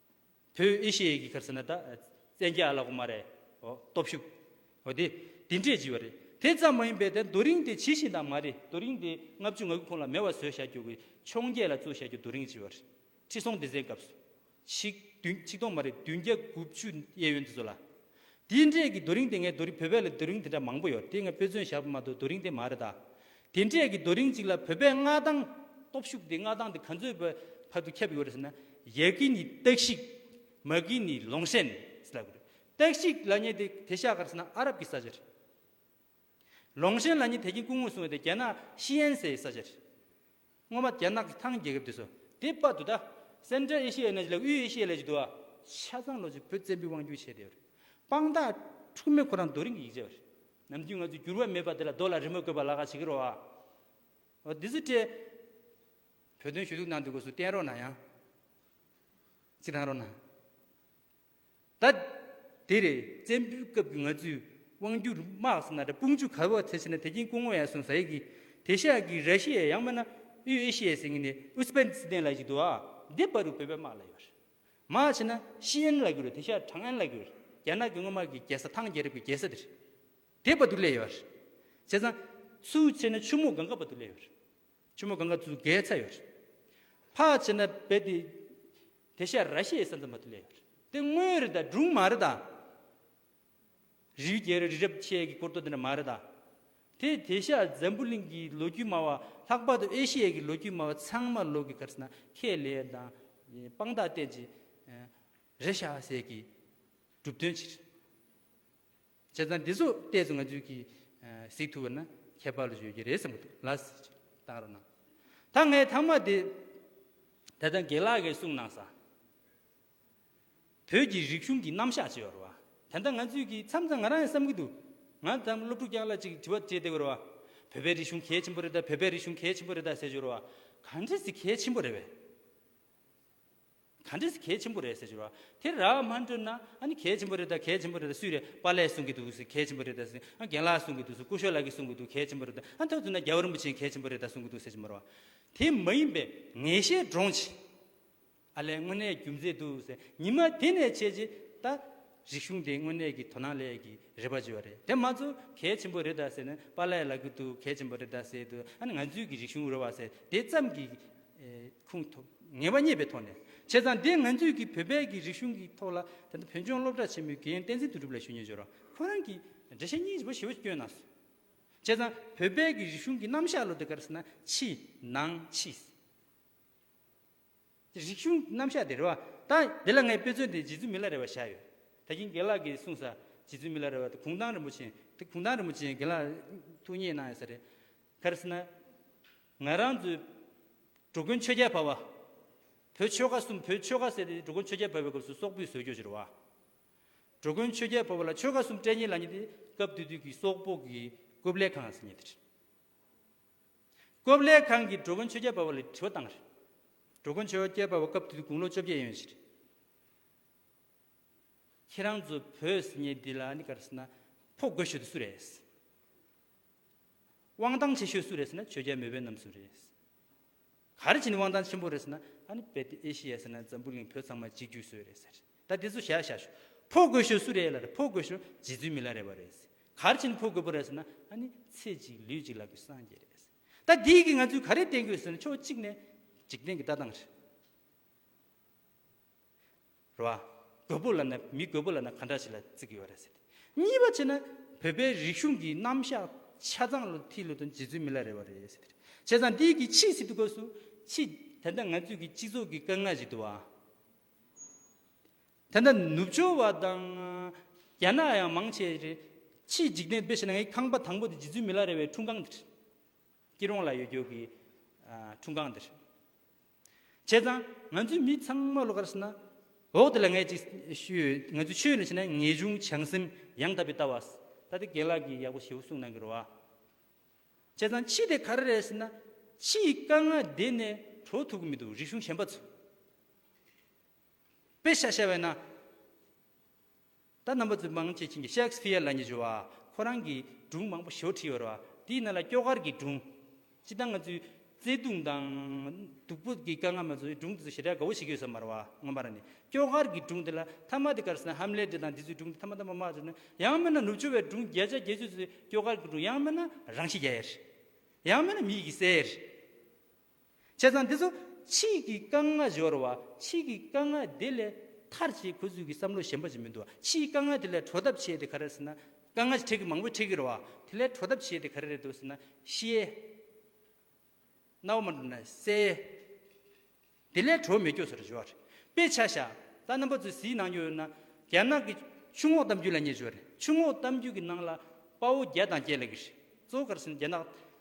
བོད་ཨེ་ཤེ་ཡའི་གི་ཁར་ཟེར་ན་ད། བཙན་རྒྱལ་ཨ་ལགས་ཀུ་མ་རེ། སྟོབས་ཤུགས། འོ་དེ། དེ་འདྲས་བགྱིས་པ་རེད། དེ་ཙམ་མ་ཡིན་པའི་དེ་རྡོ་རིང་དེ་ཇི་བཞིན་དང་མ་རེད་རྡོ་རིང་དེ་ལྔ་བཅུ་ང་དགུ་ཁོང་ལ་མེ་བ་བཟོས་བཞག་རྒྱུ་གི་འཕྱོང་རྒྱས་ལ་བཙུགས་བཞག་རྒྱུ་རྡོ་རིང་བགྱིས་པ་རེད། ཁྲི་སྲོང་ལྡེ་བཙན་སྐབས་སུ། ཆིག། བདུན་ཆིག་སྟོང་མ་རེད་བདུན་བརྒྱ་དགུ་བཅུ་གཡས་གཡོན་དེ་ཚོ་ལ། དེ་འདྲས་ཀྱི་རྡོ་རིང་དེ་ངའི་རྡོ་རིང་བོད་པའི་ལ་རྡོ་རིང་དེ་འདྲ་མང་པོ་ཡོད་དེ་ངས་དཔེ་མཚོན་བཞག་པ་མ་གཏོགས་རྡོ་རིང་དེ་མ་རེད་ད། དེ་འདྲས་ཀྱི་རྡོ་རིང་གཅིག་ལ་བོད་པའི་མངའ་ཐང། སྟོབས་ཤུགས་དེ་མངའ་ཐང་དེ་ག་ཚོད་བར་དུ་ཁྱབ་ཡོད་རེད་ཟེར་ན། ཡལ་གི་ནི་སྟག་གཤིག། མ་གི་ནི་ལོང་ཤན། ཟེར་ལབ་གི་རེད། སྟག་གཤིག་ལ་ཉེ་དེ་དེ་ཤག་གར་ཟེར་ན་ཨ་རབ་ཀྱི་ས་ཆ་རེད། ལོང་ཤན་ལ་ཉེ་དེ་ཀྱི་སྐུ་ངོས་སྲུང་བ་དེ་རྒྱ་ནག་ཤི་ཡན་སའི་ས་ཆ་རེད། སྔོན་མ་རྒྱ་ནག་གི་ཐང་རྒྱལ་ཁབ་དེ་སོ་དེ་དཔའ་དུ་ད Central Asia ཡོད་ན་ཅི་ལ་དབུས་ཨེ་ཤི་ཡའི་ལས་ཀྱི་དུ་བ་ཆ་ཚང་ལོ་ཅི་བོད་བཙན་པོའི་དབང་བསྒྱུར་བྱས་བསྡད་པ་རེད་དཔང་རྟགས་འཁྲུག་མེད་ཁོ་རང་རྡོ་རིང་གི་ཡིག་ཆ་བ་རེད་ནམ་རྒྱུན་ང་ཚོས་འགྱུར་བ་མེད་པ་དེ་ལ་རྡོ་ལ་རི་མོ་བཀོད་པ་ལ་ཁ་བྱེད་ཀྱི་རོ་ཨ་འོ་འདི་ཚོ་བཀྲེས། བོད་དོན་ཞུ་གཏུག་གནང་འདོད་སྐོར་སུ་བསྟན་རོགས་གནང་ཡང། ཅི་གནང་རོགས་གནང། ད་དེ་རེད་བཙན་པོའི་སྐབས་ཀྱི་ང་ཚོའི་དབང་སྒྱུར་དམག་ཟེར་ན་དཔུང་བཅུ་ག་བོ་ཚེ་ཟེར་ན་དེ་རྐྱེན་སྐུ་ངོ་ཡང་སོང་ཟ་ཡི་གི་དེ་ཤག་གི་ར་ཤི་ཡ་ཡང་མེད་ན་དབུས་ཨེ་ཤི་ཡ་ཟེར་ངེས་ནས་ཨུ་སི་པན་སི་ཏན་ལ་ཞིག་འདུག་ཨ་འདི་པ་རུ་བོད་པའི་དམག་ལ་ཡོད་རེད་མ་བྱས་ན་ཤི་ཨན་ལ་གི་རུ་དེ་ཤག་ཁྲང་ཨན་ལ་གི་རུ་རེད་རྒྱ་ནག་གི་དངུལ་དམག་གི་རྒྱལ་ས་ཐང་རྒྱལ་རབས་ཀྱི་རྒྱལ་ས་དེ་རེད་དེ་པ་དུ་ལས་ཡོད་རེད་བྱས་ཙང་སུ་བྱས་ན་ཆུ་མོ་གང་ག་པ་དུ་ལས་ཡོད་རེད་ཆུ་མོ་གང་ག་ཚུ་གས་ཚ་ཡོད་རེད་ཕ་བྱས་ན་བེ་དེ་དེ་ཤ་ར་ཤའི་ས་འཛོམས་པ་དུ་ལེན་ཡོད། དེ་དངོས་རི་དང་སྦྲུམ་མ་རི་དང། རི་བོའི་རྒྱལ་རི་རི་རབ་ཆེ་གི་སྐོར་གཏོ་དེ་འདྲ་མ་རི་དང། དེ་དེ་ཤ་འཛམ་བུ་གླིང་གི་ལོ་རྒྱུས་སྨྲ་བ་ལྷག་པར་དུ་ཨེ་ཤི་ཡའི་གི་ལོ་རྒྱུས་སྨྲ་བ་ཚང་མ་ལོག་གི་གར་སྣ་ཁས་ལེན་ཡོད་དང། དཔང་རྟགས་བསྟན་ཅིང། རེ་ཤ་ཟེར་གི་གྲུབ་དོན་ཕྱིར། བྱས་ཙང་འདི་ཚོ་བལྟས་ཚེ་ང་ཚོས་གིས་གཟིགས་ཐུབ་པ་ན་ཁྱད་པར་ཡོད་ཀྱི་རེད་བསམ་གྱི་འདུག་ལ། བཏང་རོགས་གནང། ད་ངའི་ཐང་མ་དེ། ད་ལྟ་དགེ་ལགས་ཀྱིས་གསུངས་གནང་ས། བོད་ཀྱི་རིག་གཞུང་གི་རྣམ་གཞག་ཅེས་བར་བ། ད་ལྟ་ང་ཚོས་གིས་མཚམས་མཚམས་ང་རང་ཡང་བསམ་གྱི་འདུག་ང་ད་སློབ་ཕྲུག་རྐྱང་ལ་ཅིག་དྲི་བ་བྱས་བསྡད་དགོས་བར་བ། བོད་པའི་རིག་གཞུང་གལ་ཆེན་པོ་རེད་ད་བོད་པའི་རིག་གཞུང་གལ་ཆེན་པོ་རེད་ད་ཟེར་བར་བ། གང་འདྲས་ཟེར་གལ་ཆེན་པོ་རེད་བས། ག་འདྲེས་གལ་ཆེན་པོ་རེད་ཟེར་ཞོར་བ་དེ་རག་མ་འགྲོ་ན་ཨ་ནི་གལ་ཆེན་པོ་རེད་ད་གལ་ཆེན་པོ་རེད་ད་སུས་རེད་པཱ་ལས་གསུང་གི་འདུག་ཟེར་གལ་ཆེན་པོ་རེད་ད་ཟེར་ཨ་རྒན་ལགས་གསུང་གི་འདུག་ཟེར་ཀུ་ཤོ་ལགས་ཀྱིས་གསུང་གི་འདུག་གལ་ཆེན་པོ་རེད་ད་ཨ་ད་དུས་ན་རྒྱལ་བ་རིན་པོ་ཆེས་གལ་ཆེན་པོ་རེད་ད་གསུང་གི་འདུག་ཟེར་གྱི་མ་རེད་བ། དེ་མ་ཡིན་པའི་ངེས་ཤེས་འདྲོངས་ཆེད། ཨ་ལས་དངོས་གནས་རྒྱུ་མཚན་འདུག་ཟེར་ཉི་མ་དེ་ནས་བྱས་རྗེས་ད། རིག་གཞུང་དེ་དངོས་གནས་ཀྱི་དོ་སྣང་ལས་ཀྱི་རེ་བ་བརྗོད་པ་རེད་དེ་མ་ཚོ་གལ་ཆེན་པོ་རེད་ད་ཟེར་ན་པཱ་ལཱའི་ལག་གི་དུ་གལ་ཆེན་པོ་རེད་ད་ཟེར་དུ་ཨ་ནི་ང་ཚོའི་གི་རིག་གཞུང་རོལ་བ་ཟེར་དེ་ཙམ་གྱི་ཁུངས་ཐོབ་ངེས་པ་རྙེད་པའི་ཐོག་ནས་བྱས་ཙང་དེ་ང་ཚོའི་གི་བོད་པའི་གི་རིག་གཞུང་གི་ཐོག་ལ་ད་ལྟ་བོད་ལྗོངས་སློབ་གྲྭ་ཆེན་མོའི་དགེ་ཡོན་བསྟན་འཛིན་དུ་གྲུབ་ལ་ཞུ་ཉེན་བྱོས་རོགས་ཁོ་རང་གི་འགྲེལ་བཤད་གཉིས་པོ་ཞེ་བོ་བསྐྱོན་གནང་སོང་བྱས་ཙང་བོད་པའི་གི་རིག་གཞུང་གི་རྣམ་གཞག་ལོ་དེ་གར་ཟེར་ན་ཕྱི་ནང་ཕྱི། རིག་གཞུང་རྣམ་གཞག་དེ་རེད་བ། ད་འདི་ལ་ངའི་དཔེ་མཚོན་དེ་རྗེ་བཙུན་མི་ལ་རེ་བ་བཞག་ཡོད། ད་གིན་དགེ་ལགས་ཀྱིས་གསུངས་ས་རྗེ་བཙུན་མི་ལ་རེ་བ་དེ་གུང་ཐང་རིན་པོ་ཆེན་དེ་གུང་ཐང་རིན་པོ་ཆེན་དགེ་ལགས་ཐུགས་མཉེས་གནང་ཡོད་ས་རེད། གལ་སྲིད་ན། ང་རང་ཚོའི་འགྲོ་མགོན་ཆོས་རྒྱལ་བ་བ། བོད་ཆོལ་ཁ་གསུམ་བོད་ཆོལ་ཁ་ཟེར་དེ་འགྲོ་མགོན་ཆོས་རྒྱལ་བ་བའི་སྐབས་སུ་སོག་པོའི་ཟོལ་སྐྱོ་ཆེ་རུ་བ། འགྲོ་མགོན་ཆོས་རྒྱལ་བ་བ་ལ་ཆོལ་ཁ་གསུམ་སྤྲད་ཉེས་ལ་ཉེས་དེ་སྐབས་དུས་དུས་ཀྱི་སོག་པོ་གི་རྐུབ་ལས་ཁང་ཟེར་ཉེས་དེ་རེད། ཀོབ་ལེ་ཁང་གི་འགྲོ་མགོན་ཆོས་རྒྱལ་འབའ་བ་ལས་དྲི་བ་བཏང་བར། འགྲོ་མགོན་ཆོས་རྒྱལ་འབའ་བ་སྐབས་དེ་དུས་དགུང་ལོ་བཅོ་བརྒྱད་ཡན་ཡོད་ཕྱིར། ཁྱེད་རང་ཚོ་བོད་སི་ཉེ་འདི་ལ་ཨ་ནི་ཀར་སི་ན་ཕོ་རྒོད་ཤོས་དེ་སུ་རེད། དབང་ཐང་ཆེ་ཤོས་སུ་རེད་ཟེར་ན་ཆོས་རྒྱལ་མོས་པའི་རྣམ་གསུམ་རེད། ག་རེ་བྱས་ནས་དབང་ཐང་ཆེན་པོ་རེད་ཟེར་ན། ཨ་ནི་བལ་ཏི་ཨེ་ཤི་ཡ་ཟེར་ན་འཛམ་བུ་གླིང་བོད་ཚང་མ་གཅིག་གྱུར་བཟོས་རེད་ཟེར། ད་དེ་ཚོ་བཞག་བཞག་ཞོག། ཕོ་རྒོད་ཤོས་སུ་རེད་ལ་རེད་ཕོ་རྒོད་ཤོས་རྗེ་བཙུན་མི་ལ་རེད་བ་རེད། ག་རེ་བྱས་ནས་ཕོ་རྒོད་པོ་རེད་ཟེར་ན། ཨ་ནི་ཚེ་གཅིག་ལུས་གཅིག་ལ་དགོས་སངས་རྒྱས་རེད། ད་འདིའི་གིས་ང་ཚོས་ག་རེ་བསྟན་དགོས་ཟེར་ན་ཕྱོགས་གཅིག་ནས་འཇིག་རྟེན་གྱི་ལྟ་སྟངས་རེད། ར་བ། རྒོད་པོ་ལ་ནི་མི་རྒོད་པོ་ལ་ནི་ག་འདྲ་ཞིག་ལ་བརྩི་གི་ཡོད་རེད་ཟེར་ཏེ། གཉིས་པ་བྱས་ན། བོད་པའི་རིག་གཞུང་གི་རྣམ་གཞག་ཆ་ཚང་ལོ་ཐི་ལོ་དང་རྗེ་བཙུན་མི་ལ་རེ་བ་རེད་ཟེར་ཏེ། བྱས་ཙང་འདི་གི་ཕྱིས་སི་ཏུ་སྐབས་སུ། ཕྱིས་ད་ལྟ་ང་ཚོས་ཀྱི་སྤྱི་ཚོགས་ཀྱི་དཀའ་ངལ་ཞིག་འདུག་བ། ད་ལྟ་ནུབ་ཕྱོགས་བ་དང། རྒྱ་ནག་ཡང་མང་ཆེ་རེད། ཕྱིས་འཇིག་རྟེན་དཔེ་བྱས་ན་ངའི་ཁང་པ་དང་པོ་དེ་རྗེ་བཙུན་མི་ལ་རེ་བའི་འཁྲུངས་ཁང་དེ་རེད། སྐྱིད་རོང་ལ་ཡོད་རྒྱུག་གི་འཁྲུངས་ཁང་འདིར། བྱས་ཙང་ང་ཚོའི་མི་ཚང་མ་ལོ་ཀར་སྲིད་ན། འོག་དེ་ལ་ངས་ཅིག་ཞུས་ཡོད་ང་ཚོའི་ཆོས་ལ་བྱས་ན་ངེས་འབྱུང་བྱང་སེམས་ཡང་དག་པའི་ལྟ་བ། ད་དེ་དགེན་ལགས་ཀྱིས་ཡག་པོ་ཞེ་བོ་གསུངས་གནང་གི་རོ་ཨ། བྱས་ཙང་ཕྱི་དེ་ག་རེ་རེད་ཟེར་ན། ཕྱི་ཡི་དཀའ་ངལ་འདི་ནས་གྲོལ་ཐུབ་གི་མི་འདུག་རིག་གཞུང་གཞན་པ་ཚོ། དཔེ་ཤ་ཤ་བས་ན། ད་རྣམ་པ་ཚོས་མང་ཆེ་བྱིངས་ཀྱི་ཤེག་སི་ཕི་ཡཱ་ལ་ཉེ་ཞོ་བ་ཁོ་རང་གིས་སྒྲུང་མང་པོ་ཞོ་བྲིས་ཡོད་རེད་བ་དེའི་ནང་ལ་སྐྱོ་གར་གྱི་སྒྲུང། སྤྱི་དང་ང་ཚོའི་བརྩེ་གདུང་དང། སྡུག་པོ་གི་དཀའ་ངལ་མ་ཚོའི་སྒྲུང་དེ་ཚོ་ཞེ་དྲག་དགའ་བོ་བྱེད་ཀྱི་ཡོད་ས་མ་རེད་བ་སྔོན་མ་ར་ནས་སྐྱོ་གར་གྱི་སྒྲུང་དེ་ལ་མཐའ་མ་དེ་གར་སོང་ན་ཧམ་ལེ་ཏི་དང་དེ་ཚོའི་སྒྲུང་དེ་མཐའ་མ་མཐའ་མ་མ་བརྩི་ན་ཡང་མེད་ན་ནུབ་ཕྱོགས་བའི་སྒྲུང་བརྒྱ་ཆ་བརྒྱད་ཅུ་ཚོའི་སྐྱོ་གར་གྱི་སྒྲུང་ཡང་མེད་ན་རང་ཤི་རྒྱ་ཡས་རེད། ཡང་མེད་ན་མི་ཡི་གི་སའི་རེད། བྱས་ཙང་དེ་ཚོ་ཕྱིས་ཀྱི་དཀའ་ངལ་སྦྱོར་བ་ཕྱིས་ཀྱི་དཀའ་ངལ་དེ་ལས་ཐར་བྱེད་ཁུ་ཚུར་གྱི་བསམ་བློ་ཞན་པ་ཅིག་མི་འདུག་ཕྱིས་ཀྱི་དཀའ་ངལ་དེ་ལས་གྲོལ་ཐབས་བྱས་ཏེ་ག་རེ་ཟེར་ན་དཀའ་ངལ་ཆེ་གེ་མང་པོ་འཕྲད་ཀྱི་རེད་བ་དེ་ལས་གྲོལ་ཐབས་བྱས་ཏེ་ག་རེ་རེད་འདུག་ཟེར་ན་ཤེས། རྣ་བ་མ་འགྲོ་ན་གསལ། དེ་ལས་གྲོལ་མི་དགོས་ཟེར་བརྗོད་བ་རེད། དཔེ་ཆ་ཤ་སྟག་རྣམ་པ་ཚོའི་གཟིགས་གནང་རྒྱུ་ཡོད་ན་རྒྱ་ནག་གི་ཆུ་ངོགས་གཏམ་རྒྱུད་ལ་ཉེ་བརྗོད་རེད་ཆུ་ངོགས་གཏམ་རྒྱུད་ཀྱི་ནང་ལ་དཔའ་བོ་བརྒྱ་དང་བརྒྱད་ལས་ཀྱི་རེད་གཙོ་བོ་ག་རེ་ཟེར་ན་རྒྱ་ནག་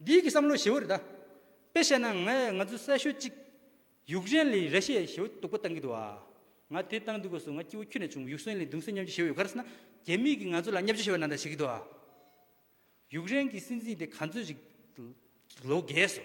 འདི་གི་བསམ་བློ་ཞེ་བོ་རེ་ད། དཔེ་བཤད་ན་ང་ཡ་ང་ཚོ་གསལ་ཤོད་ཅིག། ཡུག་རེན་ལི་རེ་ཤེ་ཞེ་བོ་སྡུག་པོ་བཏང་གི་འདུག་ཨ། ང་དེ་བཏང་འདུག་གོ་སུ་ང་སྐྱིད་བོ་ཁྱུ་ནས་བྱུང་གི་ཡུག་སྲན་ལི་གདུང་སེ་ཉམས་ཆུ་ཞེ་བོ་ཡོད་ག་རེ་ས་ན་རྒྱ་མིས་གི་ང་ཚོ་ལ་བསྙབ་བྱ་ཞེ་བོ་ན་ད་བྱེད་གི་འདུག་ཨ། ཡུག་རེན་གི་སྲིད་འཛིན་དེ་ག་ཚོད་ཅིག་ལོ་རྒས་སོ།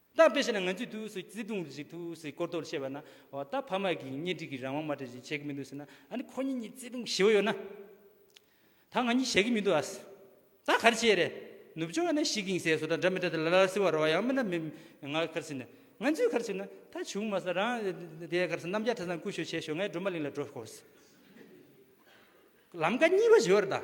ད་དཔེ་བྱས་ན་ང་ཚོས་དུས་སུ་བརྩེ་དུང་རེ་ཞིག་ཐུགས་སུ་བསྐོར་དོགས་བྱེད་པ་ན། འོ་ད་ཕ་མ་གིས་གཉེན་སྒྲིག་གི་རང་དབང་མ་སྤྲད་ཅིག་བྱེད་ཀྱི་མི་འདུག་ཟེར་ན། ཨ་ནི་ཁོ་གཉིས་གཉིས་བརྩེ་དུང་ཞི་བོ་ཡོད་ན། ད་ང་གཉིས་བྱེད་ཀྱི་མི་འདུག་ཨ། ད་ག་རེ་བྱེད་རེད། ནུབ་ཕྱོགས་ནས་ཤིག་གིང་སའི་སོ་ད་འདྲ་མི་འདྲ་དེ་ལ་ལར་སེ་བ་རོ་བ་ཡང་མི་འདྲ་མི། ང་གར་སེ་ན། ང་ཚོས་གར་སེ་ན། ད་བྱུང་མ་ཟ་རང། དེའི་གར་སེ་ནམ་རྒྱ་ཁྲ་ཚང་བསྐུར་ཞོར་བྱས་ཞོར་ངའི་སྒྲོལ་མ་གླིང་ལ་འགྲོ་དགོས། ལམ་ཀ་གཉིས་པ་བྱེད་བར་གདའ།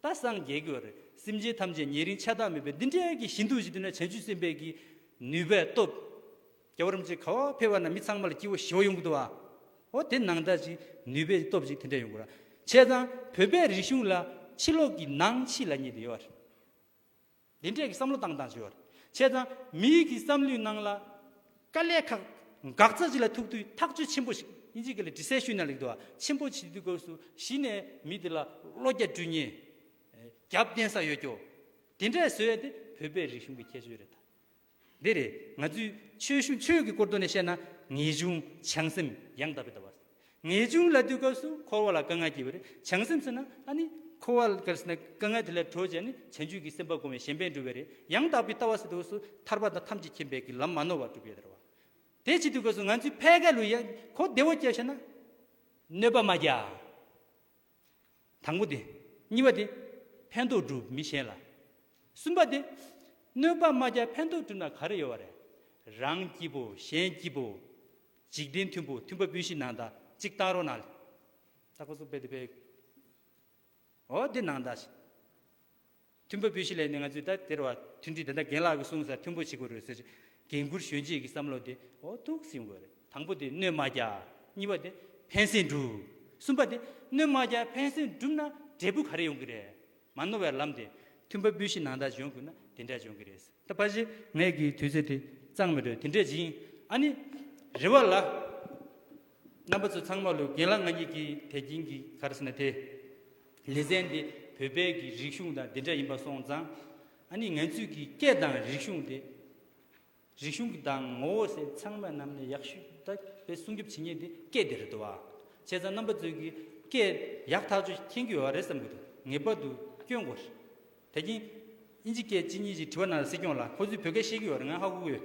ད་སངས་རྒྱས་དགོས་རེད་སེམས་ཅན་ཐམས་ཅད་ཉེ་རིང་ཆ་ཐག་མེད་པའི་འདི་འདྲའི་གི་ཞི་འདུག་ཞིག་དུ་ན་བྱང་ཆུབ་སེམས་དཔའི་གི་ནུས་པའི་སྟོབས། རྒྱལ་བ་རིན་པོ་ཆེ་ག་བ་ཕེབས་བ་ན་མི་ཚང་མ་ལ་སྐྱིད་བོ་ཞི་བོ་ཡོང་གི་འདུག་ཨ། ཨོ་དེ་ནང་ད་ཅིག་ནུས་པའི་སྟོབས་ཅིག་དེ་འདྲ་ཡོང་གི་རེད། བྱས་ཙང་བོད་པའི་རིག་གཞུང་ལ་ཕྱི་ལོག་གི་ནང་ཕྱི་ལ་གཉིས་དེ་ཡོད་རེད། དེ་འདྲའི་བསམ་བློ་བཏང་དང་ཞུ་བ་རེད། བྱས་ཙང་མི་ཡུལ་གྱི་བསམ་བློའི་ནང་ལ། དཀའ་ལས་ཁག་འགག་རྩ་ཅིག་ལ་ཐུག་དུས་ཐག་གཅོད་ཆེན་པོ་ཞིག་ཨིན་ཇི་ཀ་ལ་དྲི་ཟའི་ཤུལ་ན་ལེགས་འགྲོ་བ་ཆེན་པོ་བྱེད་དུས་སྒོས་སུ་གཞི་ནས་མི་དེ་ལ་བློ་རྒྱ་བཀྲུས་ཉེས། རྒྱབ་བརྟེན་ས་ཡོད་སྐྱོ། དེ་འདྲས་བཟོས་ཡས་དེ་བོད་པའི་རིག་གཞུང་གི་ཁྱད་ཆོས་རེད་ད། འདི་རེད། ང་ཚོས་ཆོས་གཞུང་ཆོས་ཀྱི་སྐོར་བསྡུ་ནས་བཤད་ན། ངེས་འབྱུང་བྱང་སེམས་ཡང་དག་པའི་ལྟ་བ། ངེས་འབྱུང་ལ་དུས་སྐབས་སུ་འཁོར་བ་ལ་དཀའ་ངལ་བསྐྱེད་པ་རེད། བྱང་སེམས་ཟེར་ན་ཨ་ནི། འཁོར་བ་ལ་དཀའ་ངལ་དེ་ལས་གྲོལ་བྱས་ནས་བྱང་ཆུད་ཀྱི་སེམས་དཔའ་སྒོམ་བའི་གཞན་ཕན་འགྲུབ་པས་རེད། ཡང་དག་པའི་ལྟ་བ་ཟེར་དུས་སུ་ཐར་པ་དང་ཐམས་ཅད་མཁྱེན་པའི་གི་ལམ་མ་ནོར་བར་སྒྲུབ་པའི་ལྟར་བ། དེ་བྱེད་དུས་སྐབས་སུ་ང་ཚོས་ཕལ་སྐད་ལུགས་ཡག་གོ་བདེ་བོ་སྐྱེད་བྱས་ན། གནོད་པ་མ་རྒྱག། དང་པོ་སྟེ། གཉིས་པ་སྟེ། ཕན་འདོགས་སྒྲུབ་མི་ཤེས་ལ། གསུམ་པ་སྟེ། གནོད་པ་མ་བརྒྱག་ཕན་འདོགས་སྒྲུབ་ན་ག་རེ་ཡོད་བ་རེད། རང་སྐྱིད་པོ་གཞན་སྐྱིད་པོ། འཇིག་རྟེན་མཐུན་པོ་མཐུན་པ་སྤུན་བཞི་ནང་དག་གཅིག་བཏགས་རོགས་གནང། ཨོ་དེ་ནང་དག་ཞིག། མཐུན་པོ་པོད་བཞི་ལས་ནི་ང་ཚོས་ད་དེར་བར་མཐུན་སྒྲིལ་དེ་འདྲ་རྒན་ལགས་ཀྱིས་གསུངས་ས་མཐུན་པོ་བྱེད་དགོས་རེད་ཟེར། འགན་ཁུར་གཞོན་གཅེས་ཀྱི་བསམ་བློ་དེ་འོ་ཐུགས་ཟིན་དགོས་རེད། དང་པོ་དེ་སྣོན་མ་རྒྱག། གཉིས་པ་དེ་ཕན་སེམས་སྒྲུབ། གསུམ་པ་དེ་སྣོན་མ་རྒྱག་ཕན་སེམས་སྒྲུབ་ན་འབྲས་བུ་ག་རེ་ཡོང་གི་རེད། མ་ནོར་བའི་ལམ་དེ་མཐུན་པོ་པོད་བཞི་ནང་དག་འཇོན་དགོས་ན་དེ་འདྲ་འཇོན་གི་རེད། ད་ཕ་གཞི་ནས་ཀྱི་དུས་ཚོད་དེ་གཙང་མི་འདུག་དེ་འདྲས་སྦྱིན། ཨ་ནི། རེ་བ་ལ། རྣམ་པ་ཚོ་ཚང་མ་ལོས་འགན་ལ་ང་ཉིད་ཀྱིས་དད་ཀྱིན་གྱི་ག་རེ་ཟེར་ན་དེ། ལེ་ཚན་འདི་བོད་པའི་གི་རིག་གཞུང་དང་འདི་འདྲ་ཡིན་པ་སོང་ཙང། ཨ་ནི་ངན་ཚུལ་གྱི་སྐད་དང་རིག་གཞུང་དེ། རིག་གཞུང་གི་དང་ངོ་བོ་སེ་ཚང་མ་རྣམས་ནས་ཡག་ཤོས་ད་བེ་སྲུང་སྐྱོབ་བྱེད་ཉེན་དེ་སྐད་དེ་རེད་དོ་བ། བྱས་ཙང་རྣམ་པ་ཚོས་གི་སྐད་ཡག་ཐག་ཆོད་མཁྱེན་གྱི་ཡོད་བ་རེད་བསམ་གྱི་འདུག་ངེས་པར་དུ་སྐྱོན་དགོས་རེད། དད་ཀྱིན། ཨིན་ཇི་སྐད་ཅིག་གཉིས་ཅིག་དྲི་བ་རྣམས་ལ་སེ་སྐྱོང་ལ་ཁོ་ཚོས་བོད་སྐད་ཤེས་གྱི་ཡོད་རེད་ང་ཧ་གོ་གི་ཡོད།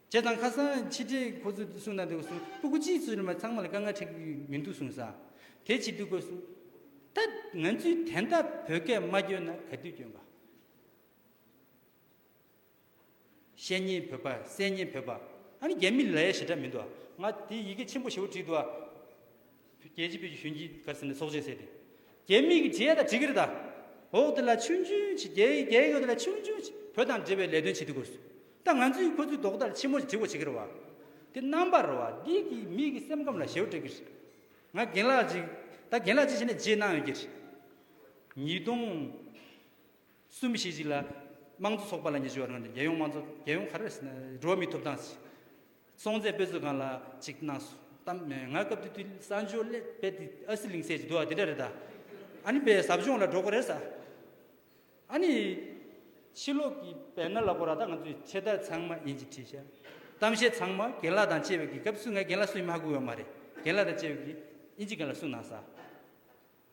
ཅེས་དང་ཁ་སང་ཕྱི་དྲིལ་ཁོ་ཚོས་གསུངས་གནང་འདུག་གསུངས་སྤུ་གུ་སྤྱིའི་ཚོགས་ཆུང་མ་ཚང་མ་ལ་དཀའ་ངལ་འཕྲད་ཀྱི་མི་འདུག་གསུངས་སང་དེ་བྱེད་འདུག་གོ་གསུངས། ད་ང་ཚོས་དན་ད་བོད་སྐད་མ་སྐྱོན་ན་ག་དུས་སྐྱོན་པ། བཤད་ཉེས་བོད་པ་གསད་ཉེས་བོད་པ་ཨ་ནི་རྒྱ་མི་ལའི་ཞེ་དྲག་མི་འདུག་ང་དེ་ཡི་གེ་ཆེན་པོ་བཞི་བོ་བྲིས་འདུག་ཨ། རྒྱལ་གཅེས་བོད་ཀྱི་གཞོན་སྐྱེས་གར་སེམས་ལ་སྲོག་ཆད་བསྲེས་ཏེ། རྒྱལ་མི་གི་རྗེས་དང་གྲི་གུར་དང། འོག་དེ་ལ་ཆུང་ཆུང་ཆེ་རྒྱལ་ཡི་རྒྱལ་ཡོད་དེ་ལ་ཆུང་ཆུང་ཆེ་བོད་དང་འབྲེལ་བའི་ལས་དོན་བྱེད་དུས་གུར་སོ། ད་ང་ཚོས་ཁོ་ཚོའི་རྡོག་ལྟར་ཆེན་མོ་ཆེ་བོ་བྱེད་ཀྱི་རེད་བ། དེ་རྣམ་པར་རོ་བ་འདི་གིས་མི་གི་སེམས་ཁམས་ལ་ཞེ་བོ་སྤྲད་ཀྱི་རེད། ང་རྒན་ལགས་གཅིག་ད་རྒན་ལགས་གཅིག་བྱས་ན་རྗེས་གནང་ཡོད་ཀྱི་རེད། ཉིས་སྟོང་གསུམ་བཞི་ཅིག་ལ་དམངས་གཙོ་ཚོགས་པ་ལ་ཉེ་ཆེ་བ་རང་རེད་རྒྱལ་ཡོངས་དམངས་གཙོ་རྒྱལ་ཡོངས་ག་རེ་བར་སྲིད་ན་འགྲོ་བ་མིའི་ཐོབ་ཐང་སྲིད། སྲོང་བཙན་པོས་ཚོད་གང་ལ་ཅིག་གནང་སོང་གཏམ་ང་སྐབས་དེ་དུས་གསར་འབྱོར་སླད་དཔེ་དེ་ཨ་སི་གླིང་ཟས་ཀྱི་དུ་བ་དེ་འདྲ་རེད་ད་ཨ་ནི་པའི་ཟབ་སྦྱོང་ལ་འགྲོ་དགོས་རེད་ས་ཨ་ནི་ཕྱི་ལོག་གི་བལ་ནཱ་ལ་གོ་ར་ད་ང་ཚོའི་ཆེ་བསྟར་ཚང་མ་ཡིན་ཅིག་བྲིས་ཤག་གཏམ་བཤད་ཚང་མ་རྒན་ལགས་དང་བཅས་པའི་གི་སྐབས་སུ་ང་རྒན་ལགས་སུ་ཡིན་མ་ཧ་གོ་ཡོད་མ་རེད་རྒན་ལགས་དང་བཅས་པའི་གི་ཨིན་ཇི་རྒན་ལ་གསུངས་གནང་ས་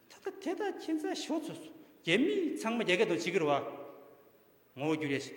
ད་ལྟ་དེ་དག་ཁྱེད་ཚ་ཞོག་ཚོས་རྒྱ་མི་ཚང་མ་རྒྱ་སྐད་དང་བྱི་སྐད་བ་ངོ་བོ་འགྱུར་ཡས་ཤིག་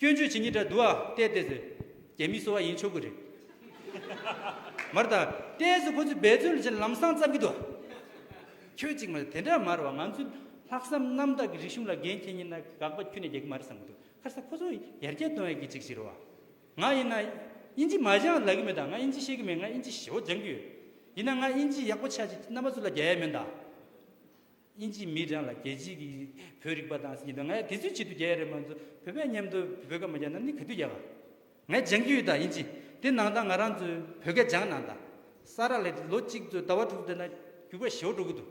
སྐྱོན་བརྗོད་བྱེད་ཉིད་དྲ་འདུལ་བ་ལྟས་བལྟས་ཟེར། རྒྱལ་མིས་གསོལ་བ་ཡིན་ཆོག་གི་རེད། མ་རེད་ད། ལྟས་ཟེར་ཁོ་ཚོས་འབད་བརྩོན་ལ་ཆེད་ལམ་སང་བརྩམས་ཀྱི་འདུག། ཁྱོད་ཅིག་མ་རེད་དེ་འདྲ་མ་རེད་བ་ང་ཚོས་ལྷག་བསམ་རྣམ་དག་གི་རིག་གཞུང་ལ་འགན་འཁྱེར་ཉིན་ན་དགག་པ་ཁྱོད་ནས་རྒྱག་གི་མ་རེད་བསམ་གྱི་འདུག་ཁར་ས་ཁོ་ཚོ་ཡར་རྒྱས་གཏོང་ཡག་གི་ཅིག་ཞིག་རེད་བ། ང་ཡིན་ན། དབྱིན་ཇི་མ་སྦྱངས་ལག་གི་མེད་ད་ང་དབྱིན་ཇི་ཤེས་གི་མེད་ང་དབྱིན་ཇི་ཞེ་བོ་སྦྱང་གི་ཡོད། ཡིན་ན་ང་དབྱིན་ཇི་ཡག་པོ་ཆགས་ཅིག་རྣམ་པ་ཚོ་ལ་རྒྱ་ཡག་མིན་ད། དབྱིན་ཇིའི་མི་གྲངས་ལ་རྒྱལ་སྤྱིའི་གི་བོད་རིག་པ་དང་ཟེར་གྱི་འདུག་ང་ཡང་དེ་ཚོའི་ཆེད་དུ་རྒྱལ་ཡས་རེད་མ་ཚོ་བོད་པའི་མཉམ་དུ་བོད་སྐད་མ་རྒྱག་ན་ནི་ག་དུས་རྒྱག་ག། ངས་སྦྱང་གི་ཡོད་ད་དབྱིན་ཇི་དེ་ནང་ད་ང་རང་ཚོའི་བོད་སྐད་སྦྱང་གནང་ད། ས་ར་ལས་ལོ་གཅིག་ཚོད་ཟླ་བ་དྲུག་ཚོད་ན་རྒྱུག་པ་ཞེ་བོ་འགྲོ་གི་འདུག་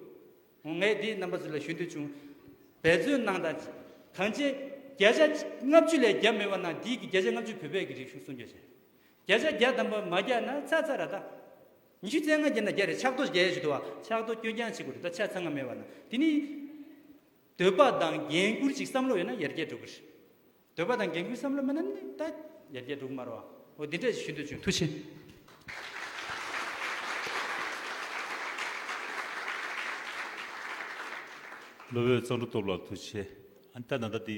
ངོ་ངས་དེའི་རྣམ་པ་ཚོ་ལ་ཞུ་འདོད་བྱུང། འབད་བརྩོན་གནང་ད། གང་ཅེ། བརྒྱ་ཆ་ལྔ་བཅུ་ལས་བརྒྱ་མེད་པ་ན་དེའི་གི་བརྒྱ་ཆ་ལྔ་བཅུ་བོད་པའི་གི་རིག་གཞུང་སྲུང་སྐྱོབ་བྱེད། བརྒྱ་ཆ་བརྒྱ་ཐམ་པ་མ་རྒྱག་ན་ཚ་ཚ་ར་ད། ཉི་ཤུ་རྩེ་ལྔ་བརྒྱད་ན་བརྒྱད་རེ་ཕྱག་རྡོ་བརྒྱད་ཞིག་འདུག་བ། ཕྱག་རྡོ་སྐྱོན་རྐྱང་ཅིག་གོ་རེ་ད་ཆ་ཚང་མ་མེད་བ་ན། དེ་ནི། འདོད་པ་དང་རྒྱན་བསྐུར་ཅིག་བསམ་བློ་ཡོད་ན་ཡར་རྒྱས་འགྲོ་གི་རེད། འདོད་པ་དང་རྒྱན་བསྐུར་བསམ་བློ་མེད་ན་ནི་ད་ཡར་རྒྱས་འགྲོ་གི་མ་རོ། འོ་འདི་འདྲ་ཞིག་ཞུ་འདོད་བྱུང་ཐུགས་ཆེ། ལོ་བོད་གཙང་སྒྲུབ་སྟོབས་ལགས་ཐུགས་ཆེ། ཨ་ནི་ད་ནང་ད་དེ།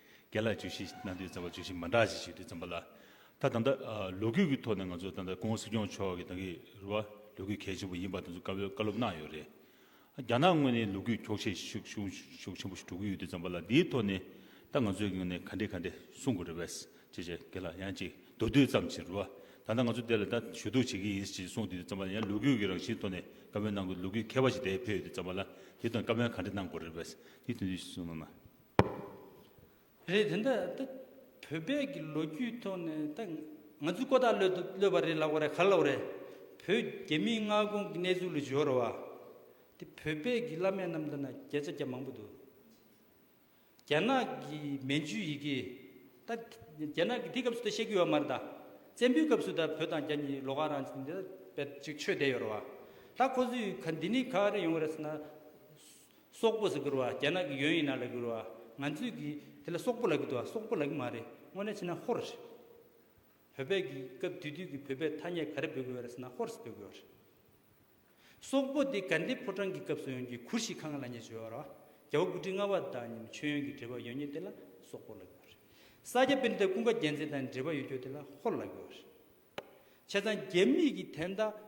རྒྱ་ལ་བརྗོད་གཞི་གནང་དུས་རྩ་བ་བརྗོད་གཞི་མ་འདྲ་ཅིག་ཞིག་རེད་བརྩམས་པ་ལ། ད་དང་ད་ལོ་རྒྱུས་ཀྱི་ཐོག་ནས་ང་ཚོ་ད་ལྟ་ཀོང་བོ་སྲིད་སྐྱོང་མཆོག་གིས་ད་གི་རུ་བ་ལོ་རྒྱུས་གལ་ཆེན་པོ་ཡིན་པ་དེ་ཚོ་བཀའ་སློབ་གནང་ཡོད་རེད། རྒྱ་ནག་དངོས་ནས་ལོ་རྒྱུས་འཁྱོག་བཤད་ཤུགས་ཆེན་པོ་ཞིག་གྲུབ་ཀྱི་ཡོད་དུས་བརྩམས་པ་ལ་དེའི་ཐོག་ནས་ད་ང་ཚོས་གི་ནས་ག་འདྲས་ག་འདྲས་གསུང་དགོས་རེད་བས་ཅེས་བྱས་གི་ལ་ཡང་ཅིག་མདོར་བསྡུས་ཙམ་བྱས་རུ་བ་ད་ལྟ་ང་ཚོ་དེ་ལ་ད་ཞུ་གཏུགས་བྱེད་ཀྱི་ཡིན་ཞེས་གསུང་དུས་བརྩམས་པ་ལ་ཡང་ལོ་རྒྱུས་ཀྱི་རང་བཞིན་ཐོག་ནས་བཀའ་མོལ་གནང་དགོས་ལོ་རྒྱུས་མཁས་པ་ཞིག་དེ་ཕེབས་ཡོད་དུས་བརྩམས་པ་ལ་དེའི་ཐོག་ནས་བཀའ་མོལ་ག་འདྲས་གནང་དགོས་རེད་བས་དེའི་དོན་དུ་གསུང་གནང། རེད་དེ་འདྲ་ད་བོད་པས་ཀྱི་ལོ་རྒྱུས་ཐོག་ནས་ད་ང་ཚོའི་ཀོ་ད་ལོད་དུ་གློད་པ་རེད་ལབ་ག་རེད་ག་རེ་ལབ་རེད་བོད་རྒྱ་མིའི་མངའ་ཁོངས་ཀྱི་གནས་ཚུལ་ལ་བྱོལ་རོ་ཨ་དེ་བོད་པས་ཀྱི་བླ་མས་རྣམས་ད་ན་བརྒྱ་ཆ་བརྒྱ་མང་པོ་འདུག་རྒྱ་ནག་གི་མན་ཇུའི་ཡི་གེ་ད་རྒྱ་ནག་གི་དེ་སྐབས་སུ་ད་བཤད་ཀྱི་ཡོད་མ་རེད་ད་བཙན་པོའི་སྐབས་སུ་ད་བོད་དང་རྒྱ་གཉིས་ལོ་ག་རང་ཅིག་ཅིག་ཆོད་བསྡད་ཡོད་རོ་ཨ་ད་ཁོ་ཚོས་ག་འདི་ནས་ག་རེ་ཡོང་ག་རེ་ཟེར་ན་སོག་པོ་ཟེར་གུར་བ་རྒྱ་ནག་གི་ཡོན་ཡིན་ན་ལ་གུར་བ་ང་ཚོས་གི་དེ་ལ་སོག་པོ་ལ་གི་འདུག་སོག་པོ་ལ་གི་མ་རེད་དངོས་གནས་ཕྱི་ན་ཧོར་རེད་བོད་པའི་གི་སྐབས་དུས་དུས་གི་བོད་པའི་ཐ་སྙད་ག་རེ་འབོད་དགོས་རེད་ཟེར་ན་ཧོར་ཟེར་འབོད་དགོས་རེད་སོག་པོ་དེ་ག་འདི་ཕོ་བྲང་གི་སྐབས་སུ་ཡོན་གི་གུར་ཞིག་གང་ལ་ཉེ་བྱོས་བ་ར་རྒྱ་བ་དགུ་ཁྲི་ལྔ་བ་དང་ཉི་མ་ཆོས་ཡོན་གི་འབྲེལ་བ་ཡོད་ཉེ་དེ་ལ་སོག་པོ་ལ་གི་བ་རེད་ས་སྐྱ་དཔེར་མཛད་ཀུན་དགའ་རྒྱལ་མཚན་དང་འབྲེལ་བ་ཡོད་ཁྱོ་དེ་ལ་ཧོར་ལ་གི་བ་རེད་བྱས་ཙང་རྒྱ་མི་གི་དན་རྟགས་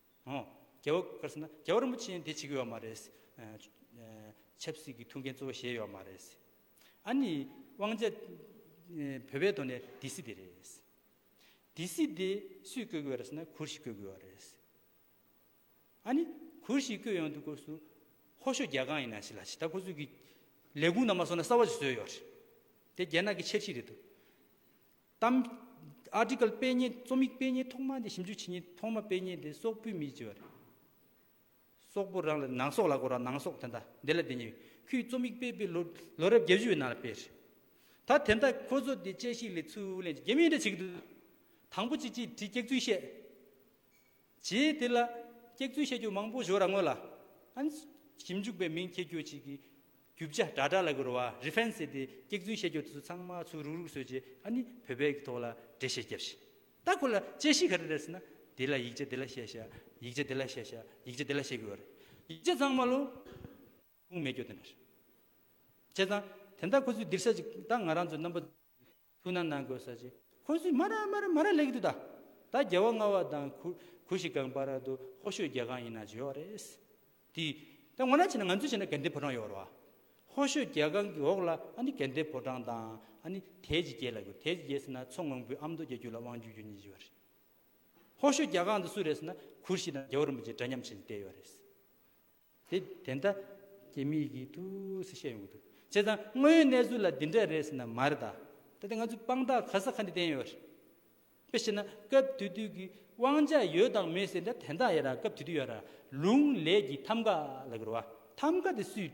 ཨོ། རྒྱལ་བོ་ཀར་སེ་ན་རྒྱལ་བོ་རིན་པོ་ཆེ་ཡང་དེ་བྱེད་ཀྱི་ཡོད་མ་རེད། ཆབ་སྲིད་ཀྱི་ཐུགས་འགན་གཙོ་བོ་གཞན་ཡོད་མ་རེད། ཨཱ་ནི། དབང་ཆ། བོད་པའི་ཐོག་ནས་སྡེ་སྲིད་དེ་རེད། སྡེ་སྲིད་དེ་སུས་བསྐོས་ཀྱི་ཡོད་རེད་ཟེར་ན་གུར་ཞིག་བསྐོས་ཀྱི་ཡོད་རེད། ཨཱ་ནི། གུར་ཞིག་བསྐོས་ཡོང་དུས་སྐོར་སུ། ཧོ་ཤོ་རྒྱལ་ཁང་ཡིན་ན་ཞིག་ལ་ཞིག་ད་ཁོ་ཚོས་ཀྱི། ལས་ཁུངས་རྣམས་ལ་སོང་ན་གསར་བ་ཞིག་བཟོས་ཡོད་རེད། དེ་རྒྱ་ནག་གི་འཆར་གཞི་རེད་དོ། གཏམ། Article དཔེ་རྙེད་རྩོམ་ཡིག་དཔེ་རྙེད་ཐོག་མ་འདི་ཞིབ་འཇུག་བྱེད་ཉིན་ཐོག་མ་དཔེ་རྙེད་འདི་སོག་པོའི་མིས་བྲིས་པ་རེད། སོག་པོ་རང་ལ་ནང་སོག་ལ་སྒོ་ར་ནང་སོག་དེ་འདྲ་འདི་ལ་དེ་ཉིན་ཁོས་རྩོམ་ཡིག་སྤེལ་པའི་ལོ་རབས་བརྒྱད་བཅུ་བའི་ནང་ལ་སྤེལ་རེད། ད་དེ་འདྲ་ཁོ་ཚོ་དེ་དཔྱད་གཞིའི་ལས་ཚུར་ལེན་གྱི་རྒྱུ་མེད་འདྲ་བྱེད་ཀྱི་འདུག་དང་པོ་ཅི་ཅིས་བྲིས་སྐྱག་རྫུན་བཤད། རྗེས་དེ་ལ་སྐྱེགས་ཚུལ་བཤད་རྒྱུ་མང་པོ་བཞོ་ར་ངོ་ལ་ཨན། ཞིབ་འཇུག་པའི་མིང་ཁྱེར་རྒྱུ་གཅིག་གི་རྒྱུ་བྱ་སྒྲ་སྒྲ་ལ་གོ་རུ་བ Reference ཟེར་ཏེ་སྐྱེགས་ཚུལ་བཤད་རྒྱུ་དེ་ཚོ་ཚང་མ་ཚུར་རུག་རུག་བཟོས་རྗེས་ཨ་ནི་བོད་པའི་གི་ཐོག་ལ་འགྲེལ་བཤད་རྒྱབ་བཞིན་ད་ཁོ་ལ་དཔྱད་གཞི་ག་རེ་རེད་ཟེར་ན་དེ་ལ་ཡིག་ཆ་དེ་ལ་བཤད་བྱ་ཡིག་ཆ་དེ་ལ་བཤད་བྱ་ཡིག་ཆ་དེ་ལ་བཤད་དགོས་བ་རེད་ཡིག་ཆ་ཚང་མ་ལོ་ཁུངས་མེད་སྐྱོ་དེ་འདྲ་རེད་བྱས་ཙང་དེ་འདྲ་ཁོ་ཚོས་འདིར་བཤད་ཅིག་ད་ང་རང་ཚོའི་རྣམ་པ། ཐུགས་ན་ནང་གོས་ཟ་བྱེད་ཁོ་ཚོས་མ་ར་མ་ར་མ་ར་ལེགས་འདུག་ད་ད་རྒྱལ་བ་ལྔ་བ་དང་གུ་གུ་ཞིག་གངས་པ་ར་དུ་ཧོ་ཤོད་རྒྱལ་ཁང་ཡིན་ན་བྱོས་བ་རེད། དེ་ད་ངོ་ན་བྱས་ན་ང་ཚོས་བྱས་ན་དགེ་འདེབས་ཕོ་བྲང་ཡོད་ར་བ། ཧོ་ཤོད་རྒྱལ་ཁང་གི་འོག་ལ་ཨ་ནི་དགེ་འདེབས་ཕོ་བྲང་དང་ཨ་ནི་དལ་གྱི་རྒྱལ་ལ་གུ་དལ་གྱི་རྒྱལ་ཟེར་ན་མཚོ་སྔོན་པོའི་ཨ་མདོ་རྒྱལ་རྒྱུད་ལ་དབང་བསྒྱུར་རྒྱུ་གཉིས་བྱས་བ་རེད། ཧོ་ཤོད་རྒྱལ་ཁང་དུ་སུ་རེད་ཟེར་ན་གུ་ཤྲི་དང་རྒྱལ་བ་རིན་པོ་ཆེ་འདྲ་མཉམ་བྱས་ནས་བསྡད་ཡོད་རེད། དེ་དེ་འདྲ་ཀྱེ་མི་གི་ཐུགས་སུ་བཤད་ཡོང་གི་འདུག་བྱས་ཙང་དངོས་ཡོད་གནས་ཚུལ་ལ་འདི་འདྲ་རེད་ཟེར་ན་མ་རེད་ད་ལྟ་ང་ཚོས་དཔང་རྟགས་ག་ས་ག་ནས་བསྟན་ཡོད་རེད། དཔེ་བྱས་ན་སྐབས་དུས་དུས་ཀྱི་དབང་ཆ་ཡོད་དང་མེད་ཟེར་འདྲ་དེ་འདྲ་ཡོད་ར་སྐབས་དུས་དུས་ཡོད་ར་ལུང་ལས་ཀྱི་ཐམ་ག་ལ་གི་རུ་བ་ཐམ་ག་དེ་སུས་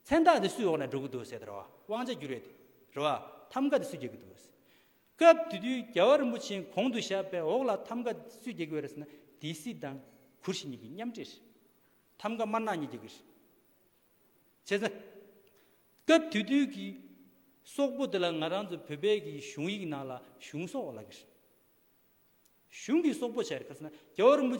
མཚན་རྟགས་དེ་སུས་འོག་ནས་འགྲོ་གི་འདུག་ཟེར་ད་རུ་བ་དབང་ཆ་རྒྱུ་རེད་དེ་རུ་བ་ཐམ་ག་དེ་སུས་རྒྱག་གི་འདུག་སྐབས་དེ་དུས་རྒྱལ་བ་རིན་པོ་ཆེའི་གོང་དུ་བཞག་པའི་འོག་ལ་ཐམ་ག་སུས་རྒྱག་གི་ཡོད་རེད་ཟེར་ན་སྡེ་སྲིད་དང་གུར་བཞི་གཉིས་ཀྱིས་མཉམ་འབྲེལ་རེད། ཐམ་ག་དམར་ནག་གཉིས་རྒྱག་གི་རེད། བྱས་ཙང། སྐབས་དེ་དུས་ཀྱི་སོག་པོ་དེ་ལ་ང་རང་ཚོ་བོད་པའི་གི་གཞུང་ཡིག་ནང་ལ་གཞུང་སོག་བ་ལབ་གི་རེད། གཞུང་གིས་སོག་པོ་བྱས་རེད་ཟེར་ན་རྒྱལ་བ་རིན་པོ་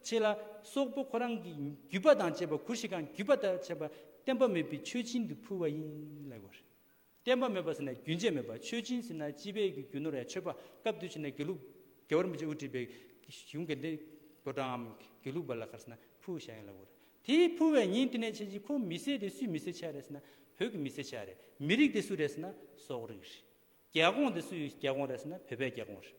ཆེ་ལ་སོག་པོ་ཁོ་རང་གི་རྒྱུད་པ་དང་བཅས་པ་གུར་བཞི་གང་རྒྱུད་པ་ལྟར་བྱས་པ་བསྟན་པ་མེད་པའི་ཆོས་སྦྱིན་དུ་ཕུལ་བ་ཡིན་ལབ་གི་རེད། བསྟན་པ་མེད་པར་ཟིན་ན་རྒྱུན་ཆད་མེད་པར་ཆོས་སྦྱིན་ཟིན་ན་སྤྱི་དཔལ་གྱི་རྒྱུ་ནོར་ཡང་ཆོས་པ་བཀའ་བསྡུ་བྱེད་ན་དགེ་ལུགས། དགེ་བར་མི་བྱེད་དབུ་ཁྲིད་པའི་གཞུང་དགེ་འདུན་དགོད་གྲངས་ངམ་དགེ་ལུགས་པ་ལ་ཁར་ཟིན་ན་ཕུལ་བྱ་ཡིན་ལ་འོ་རེད། དེ་ཕུལ་བའི་ཉིན་དེ་ནས་ཕྱིན་ཅི་ཁོ་མི་སེར་དེ་སུས་མི་སེར་ཆགས་རེད་ཟིན་ན་བོད་ཀྱི་མི་སེར་ཆགས་རེད། མི་རིགས་དེ་སུ་རེད་ཟིན་ན་སོག་རིགས་རེད། རྒྱལ་ཁོངས་དེ་སུའི་རྒྱལ་ཁོངས་རེད་ཟིན་ན་བོད་པའི་རྒྱལ་ཁོངས་རེད།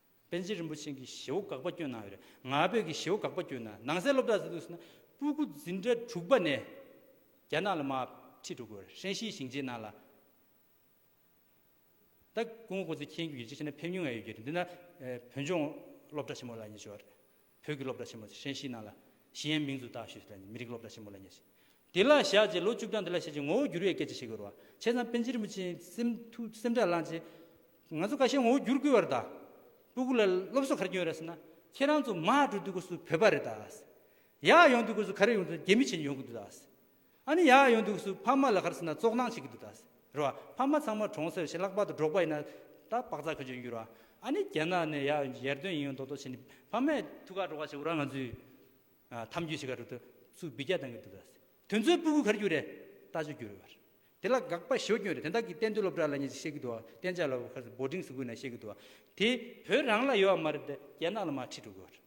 པཎ་ཆེན་རིན་པོ་ཆེན་གྱི་ཞེ་བོ་འགག་པ་སྐྱོན་ནང་ཡོད་རེད་ང་བོད་ཀྱི་ཞེ་བོ་འགག་པ་སྐྱོན་ན་ནང་གསལ་སློབ་གྲྭ་ཟེར་དུས་ཟེར་ན་སྤུ་གུ་འཛིན་གྲྭ་དྲུག་པ་ནས་རྒྱ་ནག་ལ་མ་ཁྲིད་འགྲོ་དགོས་རེད་ཧྲན་ཤིའི་ཞིང་ཆེན་ནང་ལ་ད་ཀུན་ཧོ་ཚེ་མཁྱེན་གྱི་ཡུལ་ཆེ་ཆེ་ན་ཕེབས་མྱོང་ཡ་ཡོད་རྒྱུ་རེད་འདི་ན་བོད་ལྗོངས་སློབ་གྲྭ་ཆེན་མོ་ལ་ཉེ་ཆེ་བ་རེད་བོད་ཀྱི་སློབ་གྲྭ་ཆེན་མོ་ཧྲན་ཤིས་ནང་ལ་ཞི་ཡན་མིང་འཛུགས་བརྟག་ཞུས་ཟེར་ནས་མི་རིགས་སློབ་གྲྭ་ཆེན་མོ་ལ་ཉེ་ཞིང། དེ་ལ་བཞག་རྗེས་ལོ་བཅུ་བདུན་དེ་ལ་བཞག་རྗེས་ངོ་བོ་བསྒྱུར་བའི་སྐད་ཆ་བཤད་དགོས་རུང་བ་ཆེ་ཚང་པན་ཆེན་རིན་པོ་ཆེའི་སེམས་ཐུགས་སེམས་སྒྲ་བླངས་རྗེས། ང་ཚོ་ཀ་ཤས་ངོ་བོ་བསྒྱུར་དགོས་པར་གདའ། སྤུ་གུ་ལ་སློབ་གསོ་ག་རེ་སྐྱོན་ཡོད་རེད་ཟེར་ན། ཁྱེད་རང་ཚོ་མ་འགྲོ་དུས་སྐོར་སུ་བོད་པ་རེད་གདའ། ཡག་ཡོང་དུས་སྐོར་སུ་ག་རེ་ཡོང་དུས་རྒྱ་མི་བྱས་ཉོ་གི་འདུག་གདའ། ཨ་ནི་ཡག་ཡོད་འདུག་སུ་ཕ་མ་ལ་ཁར་སེ་ན་བཙོག་སྣང་བྱེད་ཀྱི་འདུག་ད་ཟེར་བ་ཕ་མ་ཚང་མ་གྲོང་སེར་ཞེ་ལྷག་པ་དང་འགྲོགས་པ་ཡིན་ན་ད་བག་ཚ་ཁོད་ཆོད་ཡིན་འགྱུར་བ་ཨ་ནི་རྒྱ་ནག་ནས་ཡག་ཡར་ཐོན་ཡིན་ཡོད་མདོག་མདོག་བྱེད་ནི་ཕ་མས་ཐུགས་ཁག་འགྲོ་ཁག་བྱེད་འུ་རང་ང་ཚོའི་འཐམ་རྒྱུ་ཞིག་ག་རེ་དུ་སུ་བི་རྒྱ་བཏང་གི་འདུག་ད་ཟེར་དོན་ཚོའི་སྤུ་གུ་གར་རྒྱུ་རེད་ལྟ་ཆོས་རྒྱུ་རེད་བར་དེ་ལ་དགག་པ་ཞོ་སྐྱོན་རེད་དེ་དག་གི་གཏན་སྡོད་སློབ་གྲྭ་ལ་ཉེ་ཆེ་བཤད་ཀྱི་འདུག་བ་གཏན་ཆགས་ལ་བ་ཁར་སེ་སྦོ་ཏིང་སི་ཁུལ་ན་བཤད་ཀྱི་འདུག་བ་དེ་བོད་རང་ལ་ཡོད་བ་མ་རེད་དེ་རྒྱ་ནག་ལ་མ་ཁྲིད་འགྲོ་གི་བར།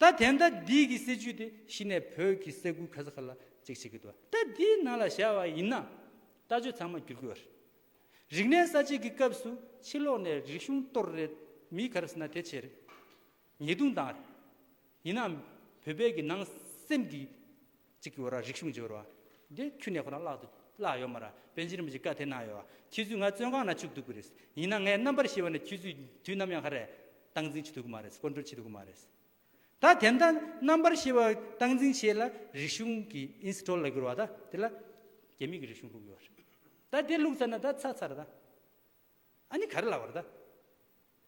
ད་དེ་འདྲ་འདི་གི་སྲིད་ཇུས་དེ་གཞི་ནས་བོད་ཀྱི་ས་ཁུལ་ག་ས་ག་ལ་གཅིག་བྱེད་ཀྱི་འདུག་ད་འདིའི་ནང་ལ་བཞག་བ་ཡིན་ན་ལྟ་སྤྱོད་ཚང་མ་བསྒྱུར་དགོས་རེད། རིག་གནས་གསར་བརྗེ་གི་སྐབས་སུ་ཕྱི་ལོག་ནས་རིག་གཞུང་གཏོར་རེད་མི་ག་རེ་ཟེར་ན་དེ་བྱས་རེད། ཉེས་རྡུང་བཏང་རེད། ཡིན་ནའང་བོད་པའི་གི་ནང་སེམས་ཀྱི་གཅིག་གི་འོ་ར་རིག་གཞུང་འབྱོར་བ། དེ་ཁྱུ་ནས་ཁོ་རང་བརླག་ཏུ་བརླག་ཡོད་མ་ར་བོད་འཇིགས་རིང་མོ་ཞིག་བཀའ་ཐེ་གནང་ཡོད་བ་ཁྱེད་ཚོས་ང་བཙོན་ཁང་ན་བཅུག་འདུག་གི་རེད་ཡིན་ན་ངའི་རྣམ་པར་ཤེས་པ་ནས་ཁྱེད་ཚོས་དུས་ནམ་ཡང་ཧ་རེ་སྟངས་འཛིན་བྱེད་ཐུབ་གི་མ་རེད་སྐོར་འདྲོན་བྱེད་ཐུབ་གི་མ་རེད་ད་དེ་འདྲ་རྣམ་པར་ཤེས་པ་སྟངས་འཛིན་བྱས་ལ་རིག་གཞུང་གི་ཨིན་སི་ཏོལ་ལ་གྱུར་བ་ད་དེ་ལ་རྒྱ་མིག་གི་རིག་གཞུང་བླུག་ཡོད་རེད་ད་དེ་བླུག་ཚར་ན་ད་ཚར་ཚར་རེད་ད་ཨ་ནི་ག་རེ་ལ་བ་རེད་ད་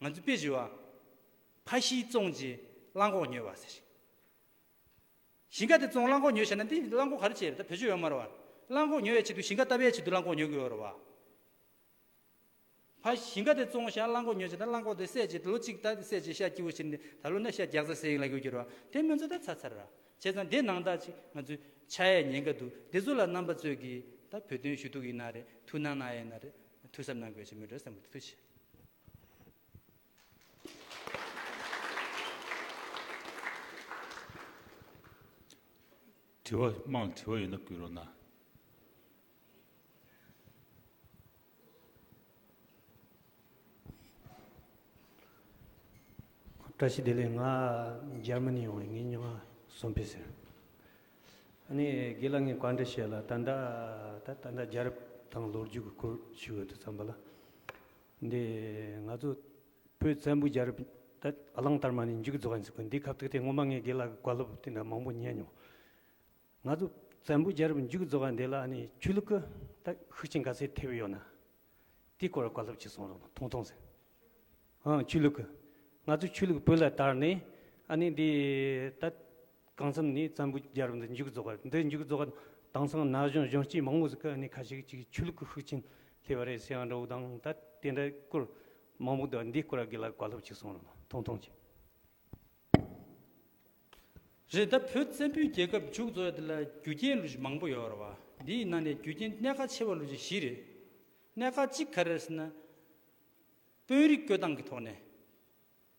ང་ཚོས་དཔེ་བཞི་བ་ཕ་ཤིའི་བཙོང་རྗེས་གླང་གོག་ཉོས་བ་ཟེར་ཞིང། ཞིང་ཁ་དེ་བཙོང་རླངས་འཁོར་ཉོས་བྱས་ན་འདི་རླངས་འཁོར་ག་རེ་བྱེད་ད་བོད་ཆོས་ཡོད་མ་རེད་བ། རླངས་འཁོར་ཉོ་ཡས་ཆེད་དུ་ཞིང་ཁ་བཏབ་ཡས་ཆེད་དུ་རླངས་འཁོར་ཉོ་གི་ཡོད་རེད་བ། ཕ་ཞིང་ཁ་དེ་བཙོང་བྱས་རླངས་འཁོར་ཉོས་བྱས་ད་རླངས་འཁོར་དེ་སད་བྱས་ལོ་གཅིག་ད་སད་བྱས་ཤ་སྐྱི་བོ་བྱེར་ནས་ད་ལོ་ན་ཤ་རྒྱག་ཚར་ཟེར་ཡིན་ལ་གོ་གྱུར་བ་དེ་སྨོན་ཚོད་ད་ཚར་ཚར་ར་བྱས་ཙང་དེ་ནང་དག་ཅིག་ང་ཚོའི་ཆ་ཡས་ཉན་ག་འདུག་དེ་ཚོ་ལ་རྣམ་པ་རྩོད་གི་ད་བོད་དོན་ཞུ་གཏུག་ཡིན་ན་རེད་ཐུགས་སྣང་གནང་ཡས་ན་རེད་ཐུགས་གཟབ་གནང་དགོས་ཅེས་མོས་སྒྲོལ་བསམ་གི་ཐུགས་ཆེ། དྲི་བ་དམངས་དྲི་བ་ཡོད་ན་བསྐུལ་རོགས་གནང། བཀྲ་ཤིས་བདེ་ལེགས་ང་འཇར་མ་ནི་ཡོང་བའི་ངའི་སྨྱོ་ང་སོམ་ཕི་ཟེར། ཨ་ནི་དགེ་ལགས་ངས་བཀའ་འདྲི་བྱེད་ལ་ད་ལྟ་ད་ལྟ་འཇར་དང་ལོ་རྒྱུས་ཀྱི་སྐོར་ཞིག་འོད་དུ་བརྩམས་པ་ལ། འདི་ང་ཚོ་བོད་བཙན་པོ་རྒྱལ་རབས་ད་གླང་དར་མ་ནས་མཇུག་རྫོགས་ཡིན་ཟེར་གི་འདིའི་ཁ་བཏགས་དེ་སྔོན་མ་ངས་དགེ་ལགས་ཀྱི་བཀའ་སློབ་དེ་འདྲ་མང་པོ་ཉན་མྱོང། ང་ཚོ་བཙན་པོ་རྒྱལ་རབས་མཇུག་རྫོགས་པ་འདི་ལ་ནི་ཆོས་ལུགས་ཀྱི་ད་ཤུགས་རྐྱེན་ག་ཚད་ཐེབས་ཡོད་ན། དེའི་སྐོར་བཀའ་སློབ་ཅིག་གསུང་རོགས་གནང་ཐུང་ཐུང་ཟེར། ཧང་ཆོས་ལུགས་ཀྱི། ང་ཚོ་ཆོས་ལུགས་བོད་ལ་དར་ནས་ཨ་ནི་འདི་ད་གང་འཚམ་ནས་བཙན་པོའི་རྒྱལ་རབས་འདི་མཇུག་རྫོགས་པ་འདི་མཇུག་རྫོགས་པ་དྭངས་སང་ན་གཞོན་གཞོན་སྐྱེས་མང་པོ་ཟིག་གི་ཨ་ནེ་ཁ་ཤས་ཀྱིས་ཆོས་ལུགས་ཀྱི་ཤུགས་རྐྱེན་ཐེབས་པ་རེད་ཟེར་ཡང་འགྲོ་དང་ད་དེ་འདྲ་སྐོར་མང་པོ་འདུག་འདི་སྐོར་ལ་འགས་ལ་གོ་སློབ་ཅིག་གསུང་རོགས་ཐུང་ཐུང་གཅིག། རེད་ད་བོད་བཙན་པོའི་རྒྱལ་ཁབ་མཇུག་རྫོགས་ཡ་འདི་ལ་རྒྱུ་རྐྱེན་ལུགས་ཞིག་མང་པོ་ཡོད་རེད་བ་འདི་ཡི་ནང་ནས་རྒྱུ་རྐྱེན་གནད་ཁ་ཆེ་བ་ལུགས་ཀྱི་བཞི་རེད་གནད་ཁ་གཅིག་ག་རེ་རེད་ཟེར་ན་དཔོན་རིགས་བསྐོས་སྟངས་ཀྱི་ཐོག་ནས།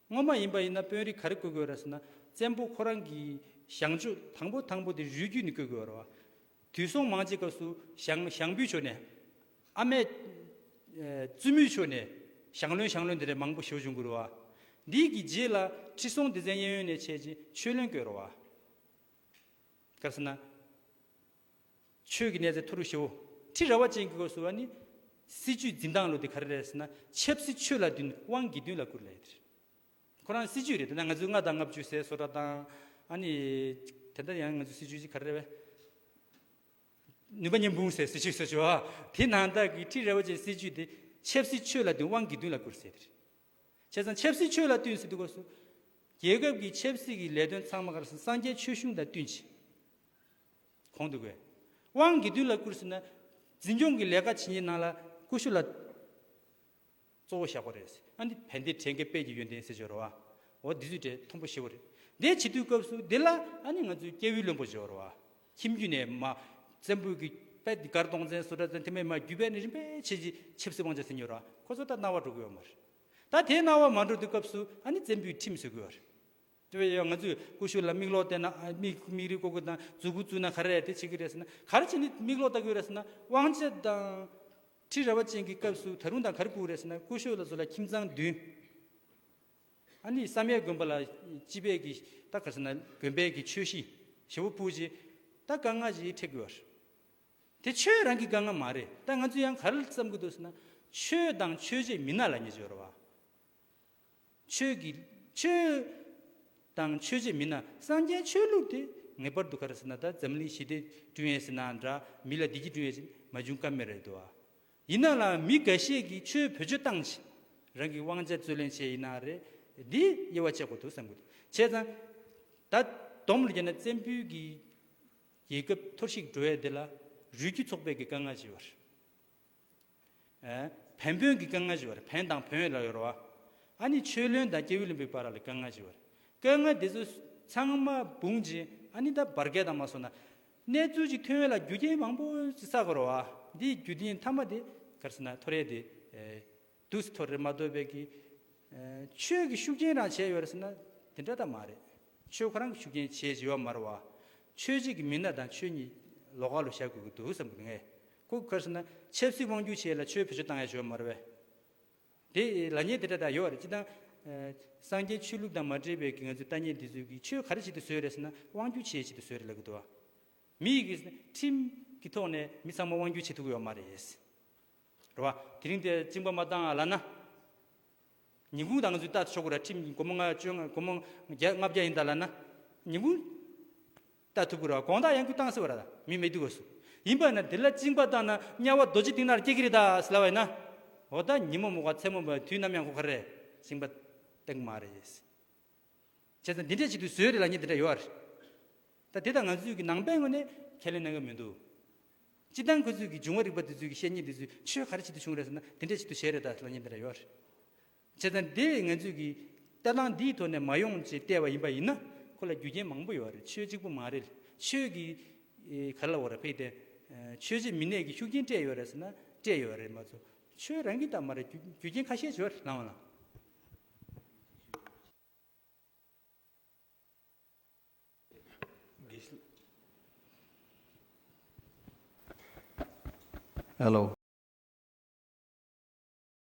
སྔོན་མ་ཡིན་པ་ཡིན་ན་དཔོན་རིགས་ག་རེ་བསྐོས་དགོས་ར་ཟེར་ན་བཙན་པོ་ཁོ་རང་གི་ཞང་ཆོས་དང་པོ་དང་པོ་དེ་རུས་རྒྱུད་ནས་བསྐོས་དགོས་ར། དུས་སོང་མང་ཆེ་སྐབས་སུ་ཞང་ཞང་བུའི་ཆོས་ནས། ཨ་མས། བཙུན་མོའི་ཆོས་ནས་ཞང་བློན་ཞང་བློན་དེ་རེ་མང་པོ་ཞོ་བྱུང་དགོས་ར། འདི་གི་རྗེས་ལ་ཁྲི་སྲོང་ལྡེ་བཙན་གཡས་གཡོན་ནས་ཆས་རྗེས་ཆོས་བློན་བསྐོས་ར། ག་རེ་ཟེར་ན། ཆོས་ཀྱི་གནས་ཚད་མཐོ་རུ་ཞུའོ། ཁྲི་ར་བ་ཅན་གྱི་སྒོར་གསོལ་བ་ནི། སྲིད་ཇུས་འཛིན་སྟངས་ལོ་དེ་ག་རེ་རེད་ཟེར་ན་ཆབ་སྲིད་ཆོས་ལ་བདུན་དབང་དགེ་འདུན་ལ་དགུ་རེད་ལབ་ཡོད་རེད། ཁོ་རང་སྲིད་ཇུས་རེད་དེ་ན་ང་ཚོས་ལྔ་དང་ལྔ་བཅུ་ཟེར་བཟོ་གྲྭ་དང། ཨ་ནི། དེ་འདྲ་ཡང་ང་ཚོའི་སྲིད་ཇུས་ཀྱི་ག་རེ་རེད་བས། ནུས་པ་ཉིས་འབུམ་ཟེར་སྲིད་ཇུས་བཟོ་བྱོས། དེ་ནང་བདག་གིས་ཁྲི་ར་བ་ཅན་སྲིད་ཇུས་དེ་ཆབ་སྲིད་ཆོས་ལ་བདུན་དབང་དགེ་འདུན་ལ་དགུ་རེད་ཟེར་ཡོད་རེད། བྱས་ཙང་ཆབ་སྲིད་ཆོས་ལ་བསྟུན་ཟེར་དུས་སྒོར་གསོལ། རྒྱལ་ཁབ་ཀྱི་ཆབ་སྲིད་ཀྱི་ལས་དོན་ཚང་མ་ག་རེ་ཟེར་ན་སངས་རྒྱས་ཆོས་གཞུང་དང་བསྟུན་ཆེད། གོང་དུ་དགོས་དབང་དགེ་འདུན་ལ་བསྐུར་ཟིན་ན། འཛིན་སྐྱོང་གི་ལས་ཀ་བྱེད་ཉིན་ནང་ལ་ཀུ་ཤུ་ལ་གཙོ་བོ་བཞག་པ་རེད། ཨ་འདི་བན་དེ་བྲེ་འགས་དཔལ་གྱི་ཡོན་ཏན་ཟེར་བྱོ་རོ་ཨ། འོ་འདི་ཚུལ་བྲེ་མཐོན་པོ་ཞེ་བོ་རེད། འདས་བྱེད་དུས་སྐབས་སུ་འདི་ལ་ཨ་ནི་ང་ཚོའི་སྐྱེ་བོའི་བློན་པོ་བྱོ་རོ་ཨ། ཁྱིམ་རྒྱུད་ནས་མ། བཙན་པོའི་གི་པད་ཏི་མགར་སྟོང་བཙན་སོ་དགྲ་བཙན་དེ་མའི་མ་བརྒྱུད་པས་ནི་རིམ་པས་ཆེ་བྱི་ཆབ་སྲིད་དབང་ཆ་ཟིན་ཉོ་རོ་ཨ། ཁོ་ཚོ་ད་རྣ་བ་འགྲོ་དགོས་ཡོད་མ་རེད། ད་དེ་རྣ་བ་མ་འགྲོ་དུས་སྐབས་སུ་ཨ་ནི་བཙན་པོའི་ཁྲིམས་བཟོས་དགོས་རེད། དེ་བས་ཡང་ང་ཚོས་ཀུ་ཤུ་ལ་མིག་ལོག་བལྟས་ན་མིག་རིག་བཀོད་དགོས་དང་མཛུ་གུ་བཙུགས་ན་ག་རེ་རེད་དེ་བྱེད་ཀྱི་རེད་ཟེར་ན་ག་རེ་བྱས་ནས་མིག་ལོག་ལྟ་གི་ཡོད་རེད་ཟེར་ན་དབང་ཆ་དང། ཁྲི་རལ་བ་ཅན་གྱི་སྐབས་སུ་ད་རུང་དང་ག་རེ་བཀུག་རེད་ཟེར་ན་ཀུ་ཤུ་ལ་བཟོ་ལ་ཁྱིམ་ཚང་བདུན། ཨ་ནི་བསམ་ཡས་དགོན་པ་ལ་སྤྱི་བེད་ཀྱི་ད་ག་ཟེར་ན་དགོན་པའི་གི་ཆོས་གཞི་ཞེ་བོ་བུ་ཅི་ད་དཀའ་ངལ་ཞིག་འཕྲད་གི་ཡོད་རེད། དེ་ཆོས་རང་གི་དཀའ་ངལ་མ་རེད་ད་ང་ཚོས་ཡང་ག་རེ་བསམ་གི་འདུག་ཟེར་ན་ཆོས་དང་ཆོས་བྱེད་མི་སྣ་ལ་ཉེས་ཆད་ཡོད་རེད་བ། ཆོས་ཀྱི། ཆོས། དང་ཆོས་བྱེད་མིན་ན་སངས་རྒྱས་ཆོས་ལུགས་དེ་ངེས་པར་འདུག་ག་རེ་ཟེར་ན་ད་འཛམ་གླིང་ཞི་བདེ་བསྐྲུན་ཡས་ཟེར་ནའང་འདྲ་མི་ལ་བདེ་སྐྱིད་བསྐྲུན་ཡས་ཟེར་མ་བྱུང་ཀ་མེད་རེད་དོ། ཡིན་ན་ལ་མི་འགའ་ཤས་ཀྱིས་ཆོས་བོད་ཆོས་བཏང་བྱས། རང་གི་དབང་ཆ་རྩོད་ལེན་བྱས་ཡིན་ན་རེད། འདི་དབྱེ་བ་ཕྱེ་དགོས་འདུག་བསམ་གི་འདུག་བྱས་ཙང། ད་སྡོམ་ལ་བརྒྱབ་ན་བཙན་བུའི་གི། རྒྱལ་ཁབ་འཐོར་ཞིག་འགྲོ་ཡས་འདི་ལ། རུས་རྒྱུད་ཚོགས་པས་གི་དཀའ་ངལ་ཆེ་བ་རེད། བན་བོན་གྱི་སྐལ་ལྔ་ཞེས་པར་བན་དང་བོན་ལ་ཡོད་རོ། ཨ་ནི་ཆོས་བློན་དང་སྐྱེས་བུ་ལོན་པའི་བར་ལ་སྐལ་ལྔ་ཞེས་པར། སྐལ་ལྔ་དེ་ཚོ་ཚང་མ་འབུངས་རྗེས་ཨ་ནི་ད་བར་སྐལ་དང་མ་སོགས་ན། གནས་ཚུལ་ཅིག་ཐོན་བས་ལ་རྒྱུ་རྐྱེན་མང་པོ་ཅིག་བསགས་དགོས་རོ། འདིའི་རྒྱུ་རྐྱེན་མཐའ་མ་དེ་གར་སོང་ན་ཐོ་རེ་དེ། དུས་སུ་ཐོ་རེ་མ་འདོད་པས་ཀྱི། ཆོས་ཀྱི་ཤུགས་རྐྱེན་རང་བྱས་ཡོད་རེ་ཟེར་ན་དེ་འདྲ་ད་མ་རེད། ཆོས་ཁོ་རང་གི་ཤུགས་རྐྱེན་བྱས་ཅི་ཡོད་མ་རེད་བ། ཆོས་བྱེད་ཀྱི་མི་སྣ་དང་ཆོས་ཉིད་ལོགས་ཀ་ལོ་བཞག་དགོས་ཀྱི་འདུག་བསམ་གྱི་ངེས། ཁོ་གོས་སོང་ན་ཆབ་སྲིད་དབང་སྒྱུར་བྱས་ལ་ཆོས་བེད་སྤྱོད་བཏང་ཡ་ཞོར་མ་རེད་བས། དེ་ལ་ཉེས་དེ་འདྲ་དག་ཡོད་རེད་སྤྱི་དང། སངས་རྒྱས་ཆོས་ལུགས་དང་མ་འབྲེལ་བའི་གི་ང་ཚོའི་ལྟ་ཉེས་འདི་ཚོས་གི་ཆོས་ག་རེ་བྱེད་དུ་བཟོད་རེད་ཟེར་ན་དབང་སྒྱུར་བྱས་བྱེད་དུ་བཟོད་རེད་ལབ་གི་འདུག་བ། མི་ཡི་གི་ཁྲིམས་གི་ཐོག་ནས་མི་ཚང་མ་དབང་སྒྱུར་བྱེད་ཐུབ་གི་ཡོད་མ་རེད། རེད་བ། དེ་རིང་དེ་བཅིངས་པ་མ་བཏང་ཡ་ལ་ན། ཉིན་གུང་དང་ང་ཚོས་བལྟ་ཆོག་གི་རེད་ཁྲིམས་གི་སྒོར་མོ་ལྔ་བཅོ་ལྔ་སྒོར་མོ་བརྒྱ་ལྔ་བརྒྱ་ཡིན་ད་ལ་ན། ཉིན་གུང། ལྟ་ཐུབ་གི་ར་གོང་ད་ཡང་ཁུ་བཏང་ཟེར་བ་ར་མི་མེད་དུས་གོ་སུ་ཡིན་པ་ན་དེ་ལ་བཅིང་པ་བཏང་ན་དམྱལ་བ་རྡོ་རྗེ་སྟེང་ནར་སྐྱེ་གི་རེད་ད་ཟེར་ལ་བས་ན་འོ་ད་ཉིན་མོ་མོ་ག་མཚན་མོ་བ་དུས་ནམ་ཡང་ཁོ་ག་རེ་བཅིང་པ་བཏང་གི་མ་རེད་བྱས་ཙང་འདི་འདྲས་ཅིག་ཏུ་བཟོས་རེད་ལ་ཉིན་དེ་འདྲ་ཡོད་རེད་ད་དེ་ད་ང་ཚོས་གི་ནང་པའི་ངོས་ནས་ཁས་ལེན་གནང་གི་མི་འདུག་སྤྱི་བཏང་ཁོ་ཚོས་གི་འབྱུང་བ་རིག་པ་དེ་ཚོས་གི་བཤད་ཉེས་དེ་ཚོས་ཆོས་ག་རེ་ཅིག་ཏུ་བྱུང་རེད་ཟེར་ན་འདི་འདྲས་ཅིག་ཏུ་བྱས་རེད་ད་ཟེར་ལ་ཉིན་དེ་འདྲ་ཡོད་རེད། བྱས་ཙང་དེ་ངས་ཚོད་ཀྱིས་ལྟ་སྟངས་འདིའི་ཐོག་ནས་མ་ཡོང་ཅེས་བལྟས་པ་ཡིན་པ་ཡིན་ན་ཁོ་ལ་རྒྱུ་རྐྱེན་མང་པོ་ཡོད་རེད་ཆོས་གཅིག་པུ་མ་རེད་ཆོས་ཀྱི། ག་ལ་བོ་ར་ཕེད་དེ། ཆོས་བྱེད་མི་ནས་ཀྱི་ཤུགས་རྐྱེན་སྤྲད་ཡོད་རེད་ཟེར་ན་སྤྲད་ཡོད་རེད་མ་གཏོགས་ཆོས་རང་གི་ལྟ་མ་རེད་རྒྱུ་རྒྱུ་རྐྱེན་ཁ་ཤས་བྱོས་ལང་བ་ལང། ཨེ་ལོ།